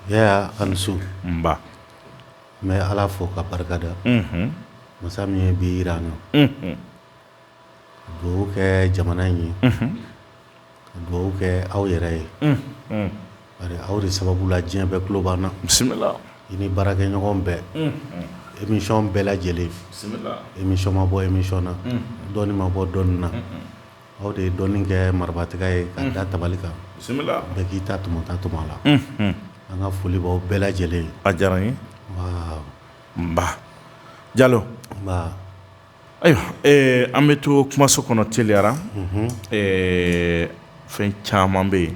Yaya a ni su nba n bɛ Ala fo k'a barikada unhun masa min ye bi jira an na unhun ka duwawu kɛ jamana in ye unhun ka duwawu kɛ aw yɛrɛ ye unhun bari aw de sababu la diɲɛ bɛɛ tulo b'an na bisimila i ni baarakɛɲɔgɔn bɛɛ unhun émission bɛɛ lajɛlen bisimila émission ma bɔ émission na unhun dɔnni ma bɔ dɔnni na un-un Aw de ye dɔnni kɛ waratigɛ ye ka da tabali kan bɛɛ k'i ta tɔmɔ ta tɔmɔ la an ka folibaa bɛɛ lajɛlen a diyara ye nba ja ayiwa an bɛ to kumaso kɔnɔ teliyara fɛn caman bɛ yen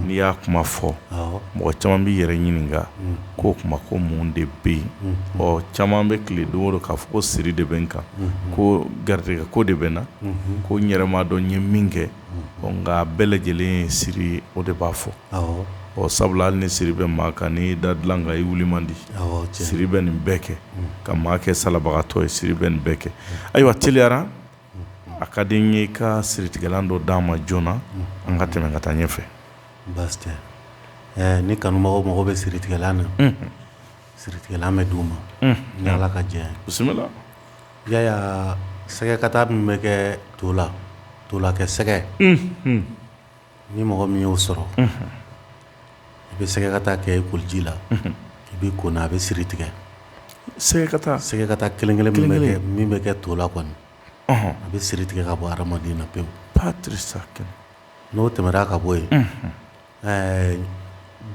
n'i y'a kuma fɔ mɔgɔ caman b'i yɛrɛ ɲininka k'o tuma ko mun de bɛ yen ɔ caman bɛ tile don k'a fɔ ko siri de bɛ n kan ko garijɛgɛ ko de bɛ n na ko n yɛrɛ m'a dɔn n ye min kɛ nka bɛɛ lajɛlen siri o de b'a fɔ ɔ sabula hali ni siri bɛ maa kan n'i da dilan kan i wuli man di siri bɛ nin bɛɛ kɛ ka maa kɛ salabagatɔ ye siri bɛ nin bɛɛ kɛ ayiwa teliyara a ka di n ye ka siritigɛlan dɔ d'a ma joona an ka tɛmɛ ka taa ɲɛfɛ baasi tɛ ni kanumɔgɔ mago bɛ siritigɛlan na Siritigɛlan bɛ di u ma ni ala ka diɲɛ bisimila Yaya sɛgɛkata min bɛ kɛ to la to la kɛ sɛgɛ ni mɔgɔ min y'o sɔrɔ i bɛ sɛgɛkata kɛ i koliji la i b'i ko a bɛ siri tigɛ sɛgɛkata sɛgɛkata kelen-kelen kɛ min bɛ kɛ to la kɔni a bɛ siri tigɛ ka bɔ hadamaden na pewu n'o tɛmɛna ka bɔ yen ɛɛ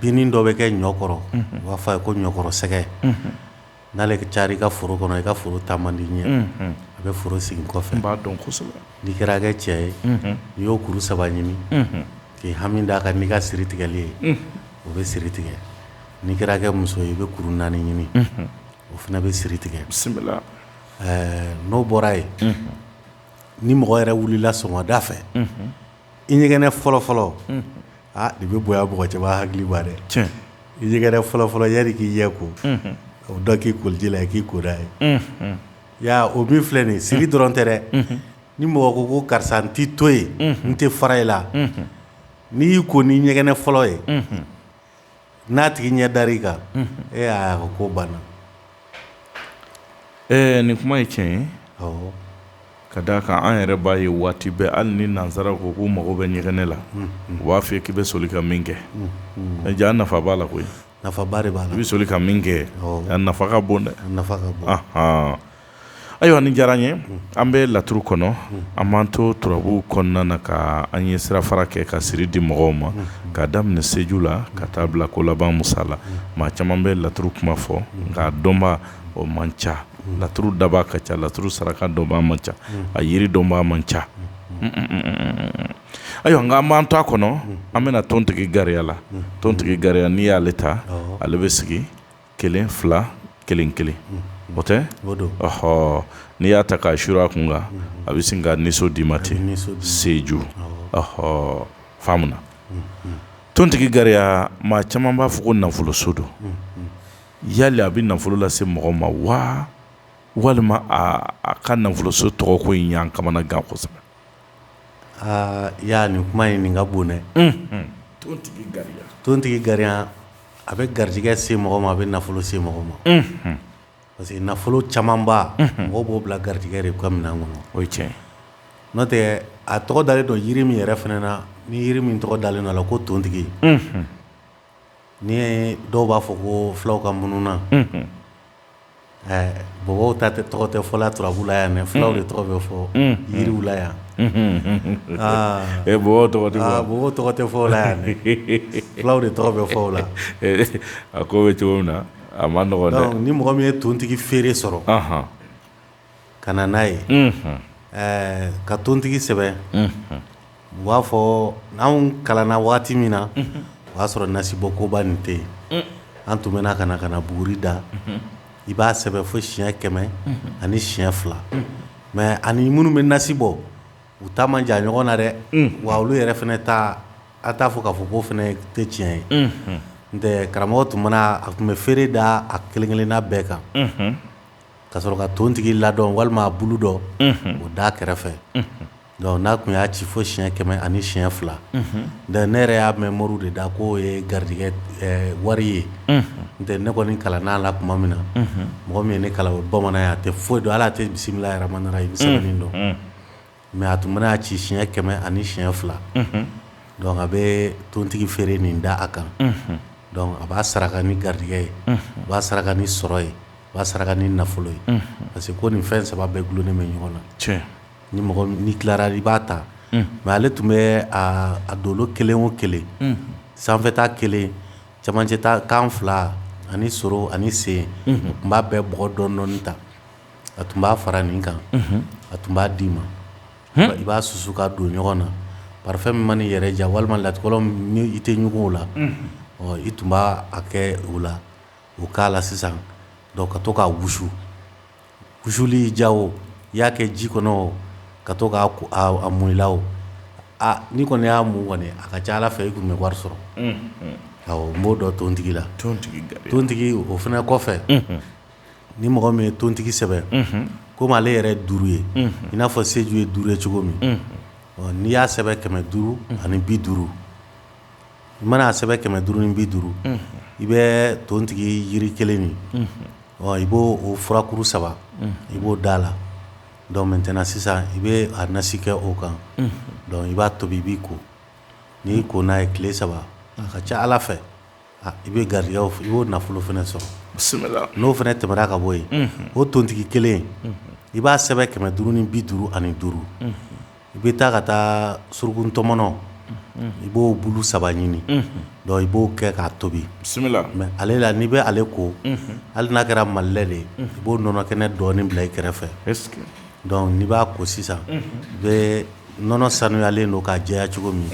binnin dɔ bɛ kɛ ɲɔ kɔrɔ u b'a fɔ a ye ko ɲɔkɔrɔ sɛgɛ n'ale carin i ka foro kɔnɔ i ka foro taa man di ɲɛ a bɛ foro segin kɔfɛ n b'a dɔn kosɛbɛ n'i kɛra kɛ cɛ ye n'i y'o kuru saba ɲini k'i hami d'a kan n'i ka siri tigɛli ye o bɛ siri tigɛ n'i kɛra kɛ muso ye i bɛ kuru naani ɲini o fana bɛ siri tigɛ bisimila ɛɛ n'o bɔra yen ni mɔgɔ yɛrɛ wulila sɔgɔmada fɛ i ɲɛgɛnɛ fɔlɔ fɔlɔ aa i bɛ bɔ mɔgɔ cɛba hakiliba dɛ cɛ i ɲɛgɛnɛ fɔlɔ fɔlɔ yɛrɛ k'i ɲɛ ko o dɔ k'i koliji la k'i ko n'a ye ya o min filɛ nin siri dɔrɔn tɛ dɛ ni mɔgɔ ko ko karisa n tɛ to yen n tɛ fara i la n'i y'i ko ni ɲɛgɛnɛ fɔlɔ ye N'a tigi ɲɛ da i kan e y'a ka ko banna ɛɛ nin kuma ye tiɲɛ ye ka d'a kan an yɛrɛ b'a ye waati bɛɛ hali ni nansara ko k'u mago bɛ ɲɛgɛnɛ la u b'a fɔ k'i bɛ soli ka min kɛ ja nafa b'a la koyi nafa b'a la i bɛ soli ka min kɛ nafa ka bon dɛ nafa Ayiwa nin diyara n ye an bɛ laturu kɔnɔ an b'an to turabu kɔnɔna na ka an ye sira fara kɛ ka siri di mɔgɔw ma ka daminɛ seju la ka taa bila ko laban Musa la maa caman bɛ laturu kuma fɔ nka dɔnbaw man ca laturu daba ka ca laturu saraka dɔnba man ca a yiri dɔnba man ca ayiwa nka an b'an to a kɔnɔ an bɛna tontigi gariya la tontigi gariya n'i y'ale ta ale bɛ sigi kelen fila kelen kelen o tɛ ɔɔ n'i y'a ta k'a su a kun kan a bɛ sin ka niso d'i ma ten seju ɔɔ faamuya tontigi gariya maa caman b'a fɔ ko nafolo so don yala a bɛ nafolo lase mɔgɔ ma wa walima a ka nafoloso tɔgɔko in y'an kamanagan kosɛbɛ Aa i y'a nin kuma ye nin ka bon dɛ tontigi gariya a bɛ garijɛgɛ se mɔgɔ ma a bɛ nafolo se mɔgɔ ma parce que nafolo camanba mɔgɔ b'o bila garijɛgɛ de ka minɛn kɔnɔ o cɛ n'o tɛ a tɔgɔ dalen don jiri min yɛrɛ fana na ni jiri min tɔgɔ dalen la ko tontigi n dɔw b'a fɔ ko fulaw ka mununan Bɔbɔw ta tɛ tɔgɔ tɛ fɔ la turabu la yan mɛ fulaw de tɔgɔ bɛ fɔ yiriw la yan tɔgɔ tɛ fɔ la yan fulaw de tɔgɔ bɛ fɔ la a ko bɛ cogo min na a man nɔgɔn ni mɔgɔ min ye tontigi feere sɔrɔ ka na n'a ye ɛɛ ka tontigi sɛbɛn u b'a fɔ an kalanna waati min na o y'a sɔrɔ nasibɔ koba nin tɛ yen an tun bɛ ka na ka na buguri da i b'a sɛbɛn fo siɲɛ kɛmɛ ani siɲɛ fila mɛ ani minnu bɛ nasi bɔ u ta man jan ɲɔgɔn na dɛ wa olu yɛrɛ fana ta a t'a fɔ k'a fɔ k'o fana tɛ tiɲɛ ye n karamɔgɔ tun a tun bɛ feere da a kelen-kelenna bɛɛ kan ka sɔrɔ ka tontigi ladɔn walima a bulu dɔ o da kɛrɛfɛ n'a tun y'a ci fo siɲɛ kɛmɛ ani siɲɛ fila ne yɛrɛ y'a mɛn moriw de da k'o ye garijɛgɛ wari ye n tɛ ne kɔni kalanna a la tuma min na mɔgɔ min ye ne kalan bamanan a tɛ foyi dɔn hali a tɛ bisimilayi rahmani rahimi sɛbɛnni dɔn mɛ a tun mana y'a ci siɲɛ kɛmɛ ani siɲɛ fila dɔnku a bɛ tontigi feere nin da a kan a b'a saraka ni garijɛgɛ ye a b'a saraka ni sɔrɔ ye a b'a saraka ni nafolo ye parce que ko nin fɛn saba bɛɛ dulonin bɛ ɲɔgɔn na ni mɔgɔ ni tilara i b'a ta mɛ ale tun bɛ a dolo kelen o kelen sanfɛta kelen cɛmancɛta kan fila ani soro ani sen tun b'a bɛɛ bɔgɔ dɔndɔɔni ta a tun b'a fara nin kan a tun b'a d'i ma i b'a susu ka don ɲɔgɔn na parifɛn min man'i yɛrɛ diya walima latikɔlɔn i tɛ ɲɔgɔn la i tun b' a kɛ o la o k'a la sisan ka to k'a wusu wusuli ja o i y'a kɛ ji kɔnɔ ka to k'a mun i la o aa n'i kɔni y'a mun kɔni a ka ca ala fɛ i tun bɛ wari sɔrɔ n b'o dɔn tontigi la tontigi o fana kɔfɛ ni mɔgɔ min ye tontigi sɛbɛn komi ale yɛrɛ duuru ye i n'a fɔ seju ye duuru ye cogo min n'i y'a sɛbɛn kɛmɛ duuru ani bi duuru i man'a sɛbɛn kɛmɛ duuru ni bi duuru i bɛ tontigi jiri kelen nin i b'o furakuru saba i b'o da la donc maintenant sisan i bɛ a nasi kɛ o kan i b'a tobi i b'i ko n'i ko n'a ye tile saba a ka ca ala fɛ I bɛ garijɛgɛ i b'o nafolo fana sɔrɔ n'o fana tɛmɛna ka bɔ yen o tontigi kelen i b'a sɛbɛn kɛmɛ duuru ni bi duuru ani duuru i bɛ taa ka taa surukuntɔmɔnɔ i b'o bolo saba ɲini i b'o kɛ k'a tobi bisimila mɛ ale la n'i bɛ ale ko hali n'a kɛra malilɛ de i b'o nɔnɔ kɛnɛ dɔɔni bila i kɛrɛfɛ n'i b'a ko sisan i bɛ nɔnɔ sanuyalen don k'a jɛya cogo min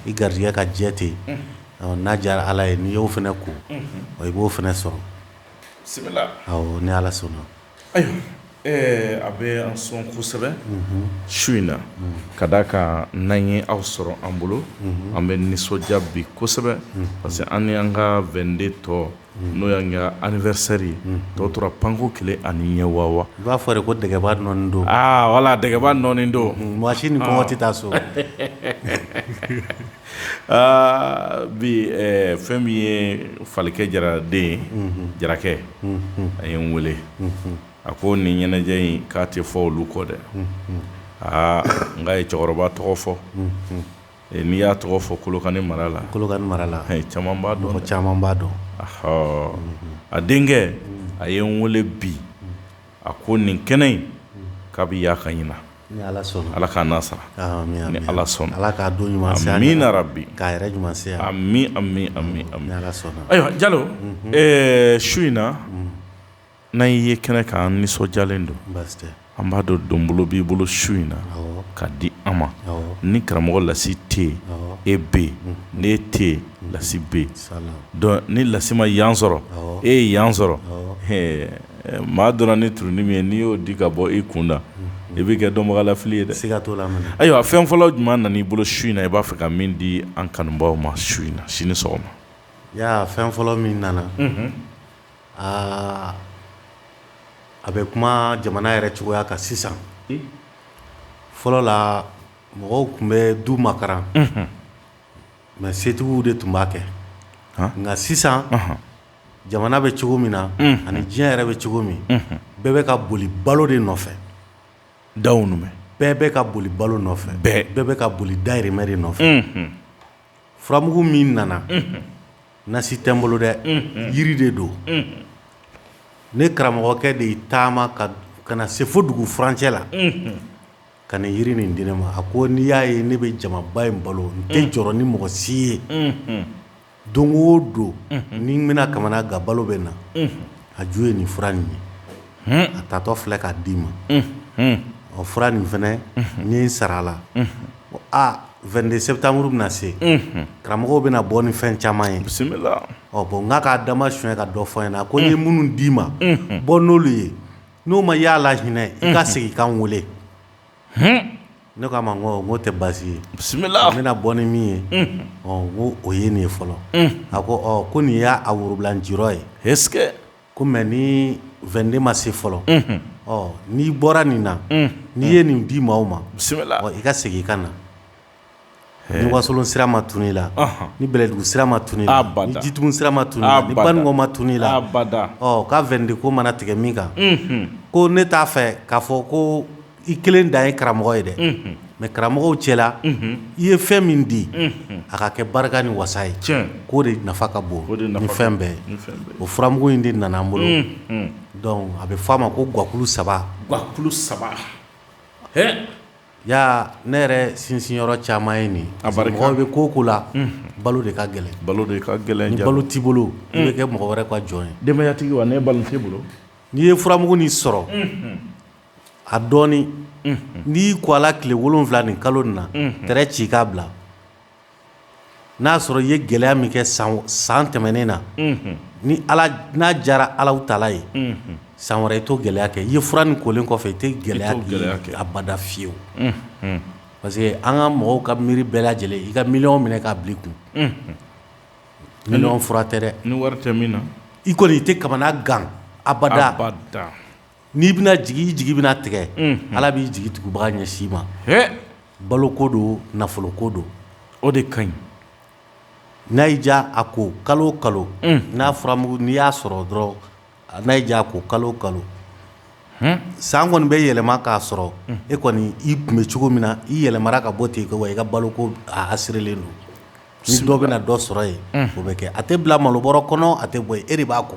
i garijɛgɛ ka jɛ ten yen N'a diyara ala ye n'i y'o fana ko i b'o fana sɔrɔ ni ala sɔnna ayiwa a bɛ an sɔn kosɛbɛ su in na ka d'a kan an ye aw sɔrɔ an bolo an bɛ nisɔndiya bi kosɛbɛ parce que an ni an ka weekend tɔ n'o y'an ka anivɛrisɛri ye tɔ tora panko kelen ani ɲɛ wawa i b'a fɔ de ko dɛgɛba nɔ don wala dɛgɛba nɔ don waati ni tɛ taa so Aa bi fɛn min ye falikɛ jara den ye jarakɛ a ye n weele a ko nin ɲɛnajɛ in k'a tɛ fɔ olu kɔ dɛ aa n ye cɛkɔrɔba tɔgɔ fɔ n'i y'a tɔgɔ fɔ kolokani mara la kolokani mara la caman b'a dɔn caman b'a dɔn a denkɛ a ye n weele bi a ko nin kɛnɛ in k'a bɛ yaa ka ɲin ala ala ka na sara ni ala sɔnna ala k'a don ɲuman min nana bi k'a yɛrɛ ɲuman ayiwa jalo su in na n'an y'i ye kɛnɛ kan an nisɔndiyalen don an b'a dɔn don bolo b'i bolo su in na ka di an ma ni karamɔgɔ lasi tɛ yen e bɛ yen n e tɛ yen lasi bɛ yen ni lasi ma yan sɔrɔ e ye yan sɔrɔ Maa dɔnna ni turunin min ye n'i y'o di ka bɔ i kun na i bɛ kɛ dɔnbagalafili ye se ka to la ayiwa fɛn fɔlɔ jumɛn nana i bolo su in na i b'a fɛ ka min di an kanubaaw ma su in na sini sɔgɔma ya fɛn fɔlɔ min nana aa a bɛ kuma jamana yɛrɛ cogoya kan sisan fɔlɔ la mɔgɔw tun bɛ du makaran mɛ setigiw de tun b'a kɛ nka sisan jamana bɛ cogo min na ani diɲɛ yɛrɛ bɛ cogo min bɛɛ bɛ ka boli balo de nɔfɛ dayirimɛ bɛɛ bɛ ka boli balo nɔfɛ bɛɛ bɛ ka boli dayirimɛ de nɔfɛ furamugu min nana nasi tɛ n bolo dɛ yiri de don ne karamɔgɔkɛ de ye taama ka na se fo dugu furancɛ la ka na yiri nin di ne ma a ko n'i y'a ye ne bɛ jamaba in balo n tɛ jɔrɔ ni mɔgɔ si ye don o don n'i bɛna kamanagan balo bɛ na a ju ye nin fura nin ye a tatɔ filɛ k'a d'i ma ɔ fura nin fana ni sara a la 22 septembre bɛna se karamɔgɔw bɛna bɔ ni fɛn caman ye bisimila ɔ bɔn n'a k'a dama son ka dɔ fɔ in na ko n ye minnu d'i ma bɔ n'olu ye n'o ma a lahinɛ i ka segin i ka n weele ne k'a ma ko o tɛ baasi ye bisimila a bɛna bɔ ni min ye ko o ye nin ye fɔlɔ a ko ko nin y'a worobilan n ci ye he ko mɛ ni 22 ma se fɔlɔ n'i bɔra nin na n'i ye nin di maaw ma bisimila i ka segin i ka na wasolon sira ma tunun i la ni bɛlɛdugu sira ma tunun jitumu sira ma tunun bankɔ ma tunun i la ko 22 ko mana tigɛ min kan ko ne t'a fɛ k'a fɔ ko i kelen dan ye karamɔgɔ ye dɛ mɛ karamɔgɔw cɛ la i ye fɛn min di a ka kɛ barika ni wasa ye k'o de nafa ka bon ni fɛn bɛɛ ye o furamugu in de nana n bolo a bɛ f'a ma ko gakulu saba gakulu saba Ya ne yɛrɛ sinsinyɔrɔ caman ye nin a barikaw bɛ ko o ko la balo de ka gɛlɛn balo de ka gɛlɛn balo t'i bolo i bɛ kɛ mɔgɔ wɛrɛ ka jɔn ye denbayatigi wa ne balo t'i bolo n'i ye furamugu nin sɔrɔ a dɔɔnin n'i ko a la tile wolon wolonwula ni kalo na t ci k'a bila N'a sɔrɔ i ye gɛlɛya min kɛ san san tɛmɛnen na ni n'a diyara ala taala ye san wɛrɛ i t'o gɛlɛya kɛ i ye fura nin kolen kɔfɛ i tɛ gɛlɛya kɛ abada fiyewu parce que an ka mɔgɔw ka miiri bɛɛ lajɛlen i ka miliyɔn minɛ k'a bila i kun ni fura tɛ dɛ ni wari tɛ min na i kɔni i tɛ kamanagan abada n'i bɛna jigi i jigi bɛna tigɛ ala b'i jigi tugubaga ɲɛsin i ma balo ko don nafolo ko don o de ka ɲi n'a y'i diya a ko kalo kalo n'a fɔra mugu n'i y'a sɔrɔ dɔrɔn n'a y'i diya a ko kalo kalo san kɔni bɛ yɛlɛma k'a sɔrɔ e kɔni i tun bɛ cogo min na i yɛlɛmana ka bɔ ten yen wa i ka balo ko a sirilen don si dɔ bɛ dɔ sɔrɔ yen o bɛ kɛ a tɛ bila malobɔrɔ kɔnɔ a tɛ bɔ e de b'a kɔ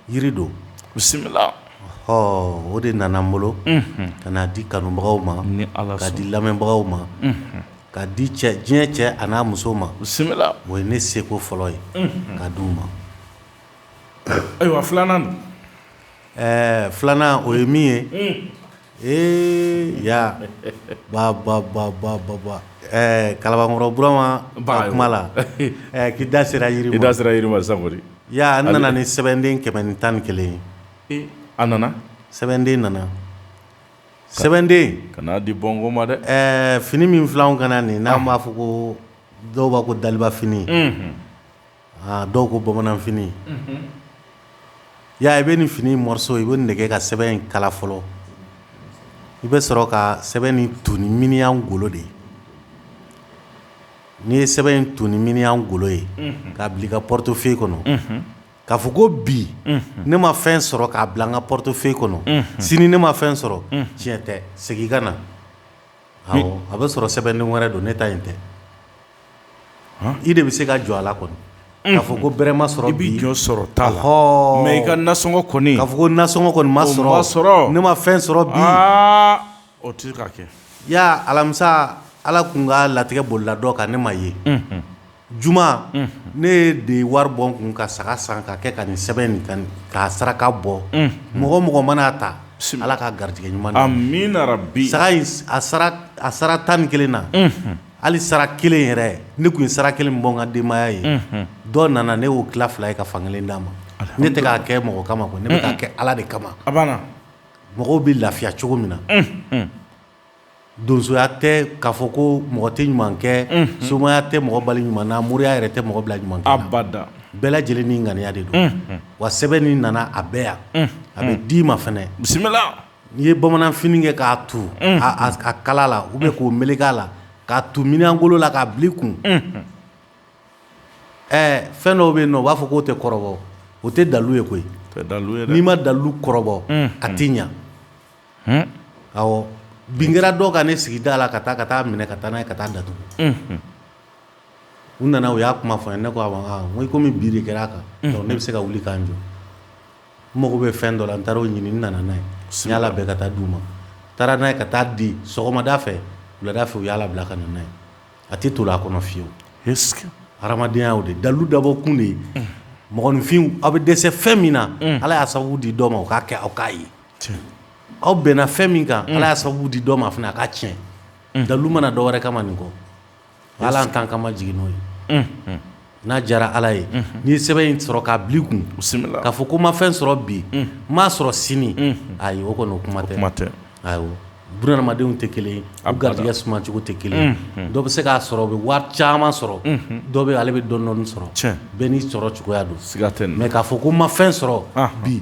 jiri don bisimila ɔ o de nana n bolo ka na di kanubagaw ma ni ala ka di lamɛnbagaw ma ka di cɛ diɲɛ cɛ a n'a muso ma bisimila o ye ne seko fɔlɔ ye ka di u ma ayiwa filanan don ɛɛ filanan o ye min ye Ee ya bababababa ɛɛ kalabankɔrɔ burama ba kuma la k'i da sera yiri da sera yiri sa ya nana ni sɛbɛnden kɛmɛ ni tan ni kelen ye a nana sɛbɛnden nana sɛbɛnden ka di mɔgɔ ma dɛ ɛɛ fini min filɛ n kan na nin n'an b'a fɔ ko dɔw b'a ko dalibafini Aa dɔw ko bamananfini y'a i bɛ nin fini morceau i bɛ nin kɛ ka sɛbɛn in kala fɔlɔ i bɛ sɔrɔ ka sɛbɛn in tu ni miniyan golo de ye n'i ye sɛbɛn in tu ni miniyan golo ye k'a bila i ka portefeuille kɔnɔ k'a fɔ ko bi ne ma fɛn sɔrɔ k'a bila n ka portefeuille kɔnɔ sini ne ma fɛn sɔrɔ tiɲɛ tɛ segin i ka na A bɛ sɔrɔ sɛbɛn wɛrɛ don ne ta in tɛ i de bɛ se ka jɔ a la kɔni k'a fɔ ko bɛrɛ ma sɔrɔ i bɛ jɔ sɔrɔ t taa la mɛ i ka nasɔngɔ kɔni k'a fɔ ko nasɔngɔ kɔni ma sɔrɔ sɔrɔ ne ma fɛn sɔrɔ bi o tɛ ka kɛ ya alamisa ala tun k'a latigɛ bolola dɔ kan ne ma ye Juma ne yɛrɛ de ye wari bɔ n kun ka saga san ka kɛ ka nin sɛbɛn in ka saraka bɔ mɔgɔ o mɔgɔ man'a ta sin ala ka garijɛgɛ ɲuman min bi a sara tan ni kelen na hali sara kelen yɛrɛ ne tun ye sara kelen bɔ n ka denbaya ye dɔ nana ne y'o tila fila ye ka fan kelen d'a ma ne tɛ k'a kɛ mɔgɔ kama ne bɛ k'a kɛ ala de kama mɔgɔw bɛ lafiya cogo min na donsoya tɛ k'a fɔ ko mɔgɔ tɛ ɲuman kɛ somaya tɛ mɔgɔ bali ɲuman na moriya yɛrɛ tɛ mɔgɔ bila ɲuman bada bɛɛ lajɛlen ni ŋaniya de don wa sɛbɛn ni nana a bɛ yan a bɛ d'i ma fana bisimila n'i ye bamananfini kɛ k'a tu a kala la u bɛ k'o meleke a la k'a tu miniyan golo la k'a bil'i kun ɛɛ fɛn dɔw bɛ yen n'u b'a fɔ k'o tɛ kɔrɔbɔ o tɛ dalu ye koyi dalu n'i ma dalu kɔrɔbɔ a tɛ ɲɛ bin kɛra dɔw kan ne sigida la ka taa ka taa minɛ ka taa n' ka taa da tugun u nana u y'a kuma fɔ ne ko kɔmi bin kɛra' kan ne bɛ se ka wuli k' jɔ mago bɛ fɛn dɔ la n taara' ɲini nana n'a ye siya bɛɛ ka taa d' u ma taara n'a ye ka taa di sɔgɔmada fɛ wulada fɛ u y'a labila ka n' ye a tɛ to a kɔnɔ fiyewu hadenyaya o de dalu dabɔ kun de ye mɔgɔninfin aw bɛ dɛsɛ fɛn min na ala y'a sababu di dɔ ma o k'a kɛ aw k'a ye aw bɛnna fɛn min kan ala y'a sababu di dɔ ma fana a k'a tiɲɛ dalu ma na dɔ wɛrɛ kama nin kɔ ala tan kama jigin n'o ye n'a diyara ala ye n'i ye sɛbɛn in sɔrɔ k'a bil'i kun k'a fɔ ko ma fɛn sɔrɔ bi n m'a sɔrɔ sini a o kɔni o kuma tɛ kuma tɛ adamadenw tɛ kelen a garijɛgɛ sumacogo tɛ kelen dɔ bɛ se k'a sɔrɔ bɛ wari caman sɔrɔ dɔ bɛ ale bɛ dɔɔni dɔɔni sɔrɔ bɛɛ n'i sɔrɔ cogoya don siga tɛ mɛ k'a fɔ ko ma fɛn sɔrɔ bi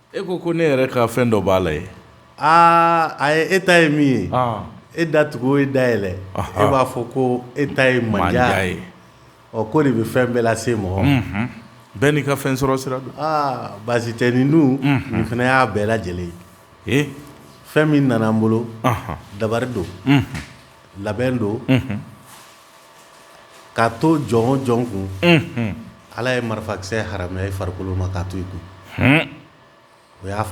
E ko ko ne yɛrɛ ka fɛn dɔ b'a la ye aa a e ta ye min ye e da tugu o ye da yɛlɛ e b'a fɔ ko e ta ye ma ye ɔ ko de bɛ fɛn bɛɛ lase mɔgɔ bɛɛ n'i ka fɛn sɔrɔ sira don aa baasi tɛ ni dun nin fana y'a bɛɛ lajɛlen ye fɛn min nana an bolo dabari don labɛn don K'a to jɔn o jɔn kun ala ye marifakisɛ haramuya i farikolo ma k'a to i kun o y'a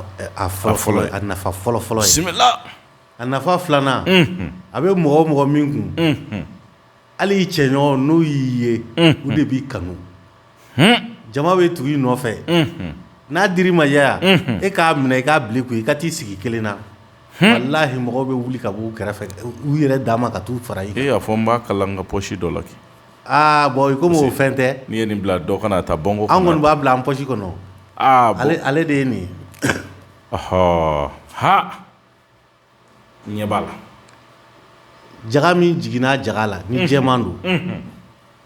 fɔlɔ fɔlɔ a nafa fɔlɔ fɔlɔ ye a nafa filanan a bɛ mɔgɔ o mɔgɔ min kun hali i cɛ ɲɔgɔn n'u y'i ye u de b'i kanu jama bɛ tugu i nɔfɛ n'a dir'i ma yala e k'a minɛ i k'a bil'i kun i ka t'i sigi kelen na walahi mɔgɔw bɛ wuli ka bɔ u kɛrɛfɛ u yɛrɛ dama ka taa u fara e y'a fɔ n b'a kala n ka pɔsi dɔ la kɛ aa bɔn kɔmi fɛn tɛ n'i ye nin bila dɔ kana taa bɔnko an kɔni b'a bila an pɔsi kɔnɔ ale de ye nin ɔɔ ɲɛ b'a la jaga min jiginna jaga la ni jɛman don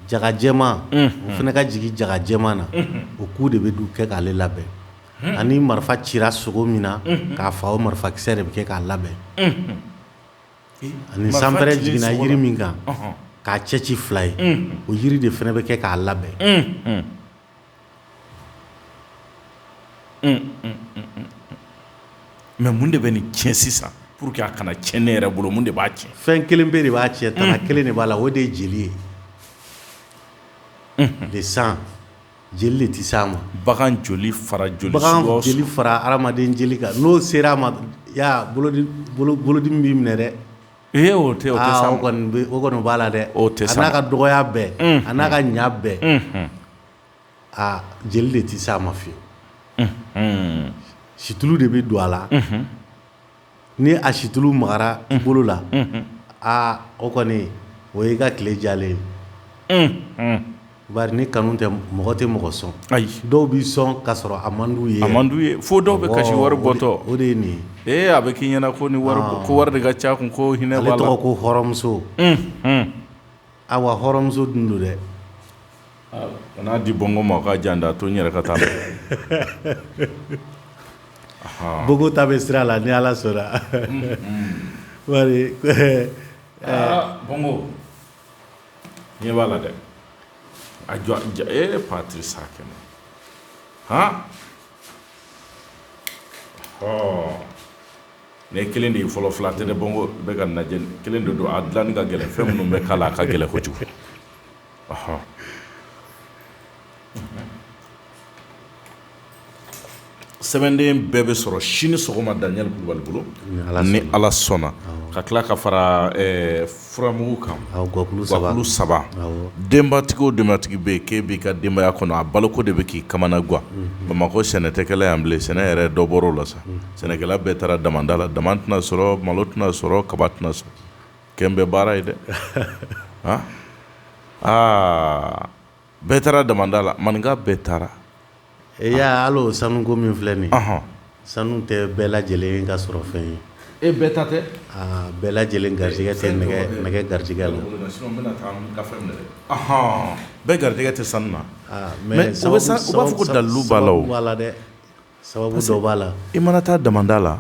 jaga jɛman o fana ka jigin jaga jɛman na o ku de bɛ du kɛ k'ale labɛn ani marifa cira sogo min na k'a fa o marifakisɛ de bɛ kɛ k'a labɛn ani sanpɛrɛn jiginna jiri min kan k'a cɛ ci fila ye o jiri de fana bɛ kɛ k'a labɛn mɛ mun de bɛ nin cɛn sisan pour que a kana cɛn ne yɛrɛ bolo de b'a cɛn fɛn kelen pe de b'a cɛn tana kelen de b'a la o de ye jeli ye de san jeli de tɛ se a ma bagan joli fara joli fara adamaden jeli kan n'o sera a ma bolodi bɛ minɛ dɛ Ee o kɔni b'a la dɛ o tɛ n'a ka dɔgɔya bɛɛ a n'a ka ɲa bɛɛ aa jeli de tɛ se a ma fiyewu situlu de bɛ don a la ni a situlu magara i bolo la aa o kɔni o y'i ka tile diyalen ye Bari ni kanu tɛ mɔgɔ tɛ mɔgɔ sɔn ayi dɔw b'i sɔn ka sɔrɔ a man di u ye a man di u ye fo dɔw bɛ kasi wari bɔtɔ o de ye nin ee a bɛ k'i ɲɛna ko ni wari ko wari de ka ca kun ko hinɛ tɔgɔ ko hɔrɔnmuso a wa hɔrɔnmuso dun don dɛ a n'a di bɔnko ma ka jan da a to n yɛrɛ ka taa bɔnko ta bɛ sira la ni ala sɔnna wari bɔnko ɲɛ b'a la dɛ a jɔ ja ee patisakana han ɔɔ ne kelen de ye fɔlɔ fila tɛ ne bɔnko bɛ ka najɛ kelen de don a dilanni ka gɛlɛn fɛn minnu bɛ k'a la a ka gɛlɛn kojugu ɔhɔn sɛbɛnden bɛɛ bɛ sɔrɔ sini sɔgɔma daniyɛli kulubali bolo ni ala sɔnna ka tila ka fara furamugu kan saba denbatigi o denbatigi bɛ ke bi ka denbaya kɔnɔ a baloko de bɛ k'i kamana gan bamakɔ sɛnɛ tɛ kɛla yan bilen sɛnɛ yɛrɛ dɔbɔla sa sɛnɛkɛla bɛɛ taara damada la dama tɛna sɔrɔ malo tɛna sɔrɔ kaba tɛna sɔrɔ kɛmɛ bɛ baara ye dɛ aa aa bɛɛ taara damanda la maninka bɛɛ taara e y'a lɔn sanuko min filɛ nin sanu tɛ bɛɛ lajɛlen ka sɔrɔ fɛn ye e bɛɛ ta tɛ bɛɛ lajɛlen garijigɛ tɛ nɛgɛ garijigɛ la bɛɛ garijigɛ tɛ sanu na mɛ sababu dalu b'a la dɛ sababu b'a la i mana taa damada la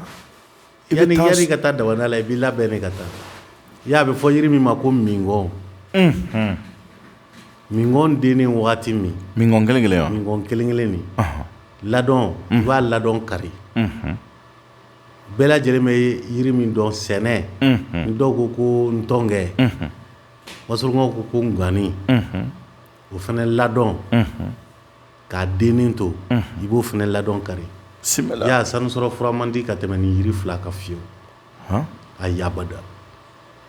I bɛ taa i ka taa damada la i b'i labɛn ne ka taa i y'a bɛ fɔ yiri min ma ko minkɔn minkɔn den ni waati min minkɔn kelen kelen minkɔn kelen kelen min ladɔn i b'a ladɔn kari bɛɛ lajɛlen bɛ yiri min dɔn sɛnɛ n dɔw ko ko ntɔnkɛ wasolonkaw ko ko n ganni o fana ladɔn k'a dennin to i b'o fana ladɔn kari y'a sanu sɔrɔ fura man di ka tɛmɛ nin yiri fila kan fiyewu abada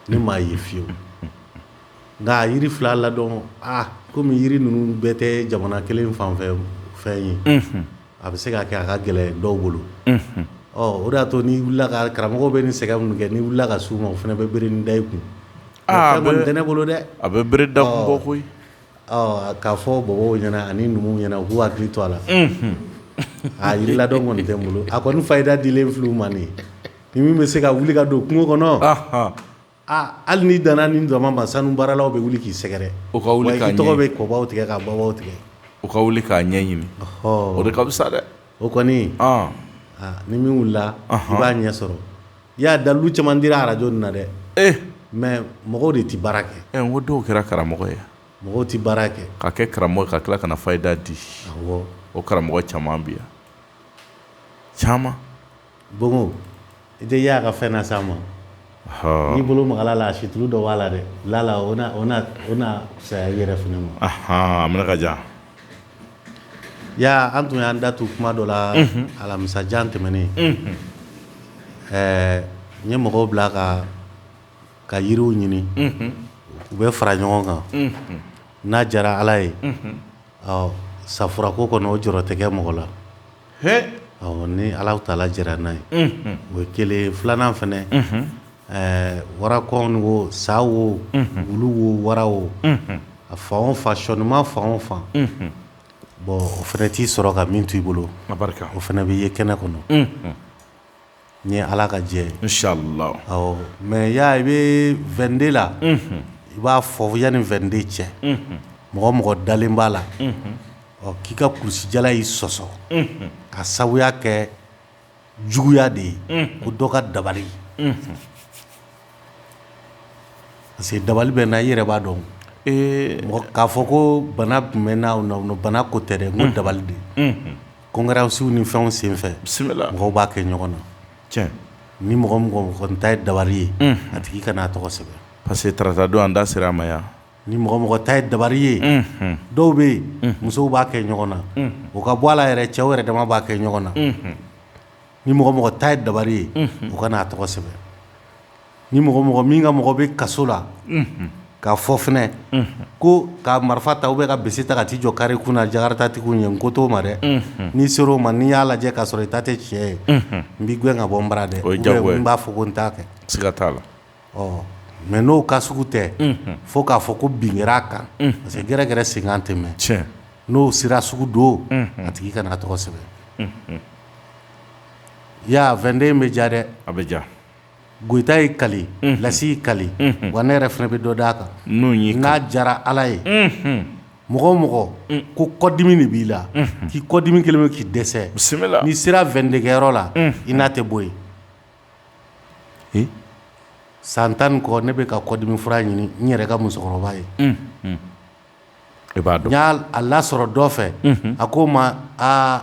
ni maa ye fiyewu nka yiri fila ladɔn aa kɔmi yiri ninnu bɛɛ tɛ jamana kelen fanfɛ fɛn ye a bɛ se k'a kɛ a ka gɛlɛn dɔw bolo ɔ o de y'a to ni wili ka karamɔgɔw bɛ ni sɛgɛ minnu kɛ ni wili ka se u ma o fana bɛ bere da kun tɛ ne bolo dɛ a bɛ bere da kun bɔ koyi K'a fɔ bɔbɔw ɲɛna ani numuw ɲɛna u k'u hakili to a la a yiri ladɔn kɔni tɛ n bolo a kɔni fayida dilen fili man ni min bɛ se ka wuli ka don kungo kɔnɔ aaa hali ni dan ni daman ba sanu baaralaw bɛ wuli k'i sɛgɛrɛ o ka wuli tɔgɔ bɛ kɔbaw tigɛ ka bɔ tigɛ u ka wuli k'a ɲɛ ɲini o de ka fisa sa dɛ O kɔni ni min wulila i b'a ɲɛ sɔrɔ i y'a dalu caman di arajo na dɛ mɛ mɔgɔw de tɛ baara kɛ ko dɔw kɛra karamɔgɔ ye mɔgɔw tɛ baara kɛ ka kɛ karamɔgɔ ka tila ka na fayida di o karamɔgɔ caman bi yan caman Bongo i tɛ y'a ka fɛn na sa ma n'i bolo magala a la a situ dɔ b'a la dɛ la o na saya yɛrɛ f ma an ka ja ya an tun y'an da tu kuma dɔ la alamisa in tɛmɛnen ɛɛ n ye mɔgɔw bila a ka ka yiriw ɲini u bɛ fara ɲɔgɔn kan n'a diyara ala ye ɔ sa furako kɔni o jɔrɔ tɛ mɔgɔ la ni ala taala jɛnna n'a ye o ye kelen filanan fana ɛɛ wara ko sa wo wulu wo wara wo a fan o fan sɔnima fan o fan bɔn o fana t'i sɔrɔ ka min to i bolo o fana bɛ ye kɛnɛ kɔnɔ n ye ala ka jɛ sala mɛ y ya i bɛ 22 la i b'a fɔ yan ni 22 cɛ mɔgɔ o mɔgɔ dalen b'a la ɔ k'i ka kulusijala y'i sɔsɔ ka sababuya kɛ juguya de ye ko dɔ ka dabali Parce que dabali bɛ na i yɛrɛ b'a dɔn k'a fɔ ko bana tun bɛ n' bana ko tɛ dɛ n ko dabali de kɔnkiransiw ni fɛnw senfɛ bisimila mɔgɔw b'a kɛ ɲɔgɔn na cɛ ni mɔgɔ o mɔgɔ ta ye dabali ye a tigi kana a tɔgɔ sɛbɛn parce que tata don an da sera a ma yan ni mɔgɔ o mɔgɔ ta ye dabali ye dɔw bɛ yen musow b'a kɛ ɲɔgɔn na o ka bɔ a la yɛrɛ cɛw yɛrɛ dama b'a kɛ ɲɔgɔn na ni mɔgɔ o mɔgɔ ta ye dabali ye u kana a tɔgɔ sɛbɛn ni mɔgɔ o mɔgɔ min ka mɔgɔ bɛ kaso la k'a fɔ fɛn ko ka marifa ta u bɛ ka bese ta ka t'i jɔ kare kun na jakaritatigiw ye n ko t'o ma dɛ ni n sera o ma ni n y'a lajɛ k'a sɔrɔ i ta tɛ tiɲɛ ye n b'i gɛn ka bɔ n bara dɛ n b'a fɔ ko n t'a kɛ siga t'a la ɔ mais n'o cas sugu tɛ, unhun, fo k'a fɔ ko bin kɛra a kan, unhun, parce que gɛrɛ gɛrɛ senkan tɛ mɛn, tiɲɛ, n'o sira sugu don, unhun, a tigi kana a tɔgɔ sɛbɛn, unhun, i y'a ye a 22 in bɛ diya dɛ, a bɛ diya, Goyita y'i kali, unhun, Lasi y'i kali, unhun, wa ne yɛrɛ fana bɛ dɔ d'a kan, n'o y'i kali, n'a diyara Ala ye, unhun, mɔgɔ o mɔgɔ ko kɔdimi de b'i la, unhun, k'i kɔdimi kɛlen don k'i dɛsɛ, bisimila, n'i sera 22 kɛyɔrɔ la, unhun, i n'a tɛ bɔ yen, san tan kɔ ne bɛ ka kɔdimi fura ɲini n yɛrɛ ka musokɔrɔba ye i b'a dɔn n y'a lasɔrɔ dɔ fɛ a ko o ma aa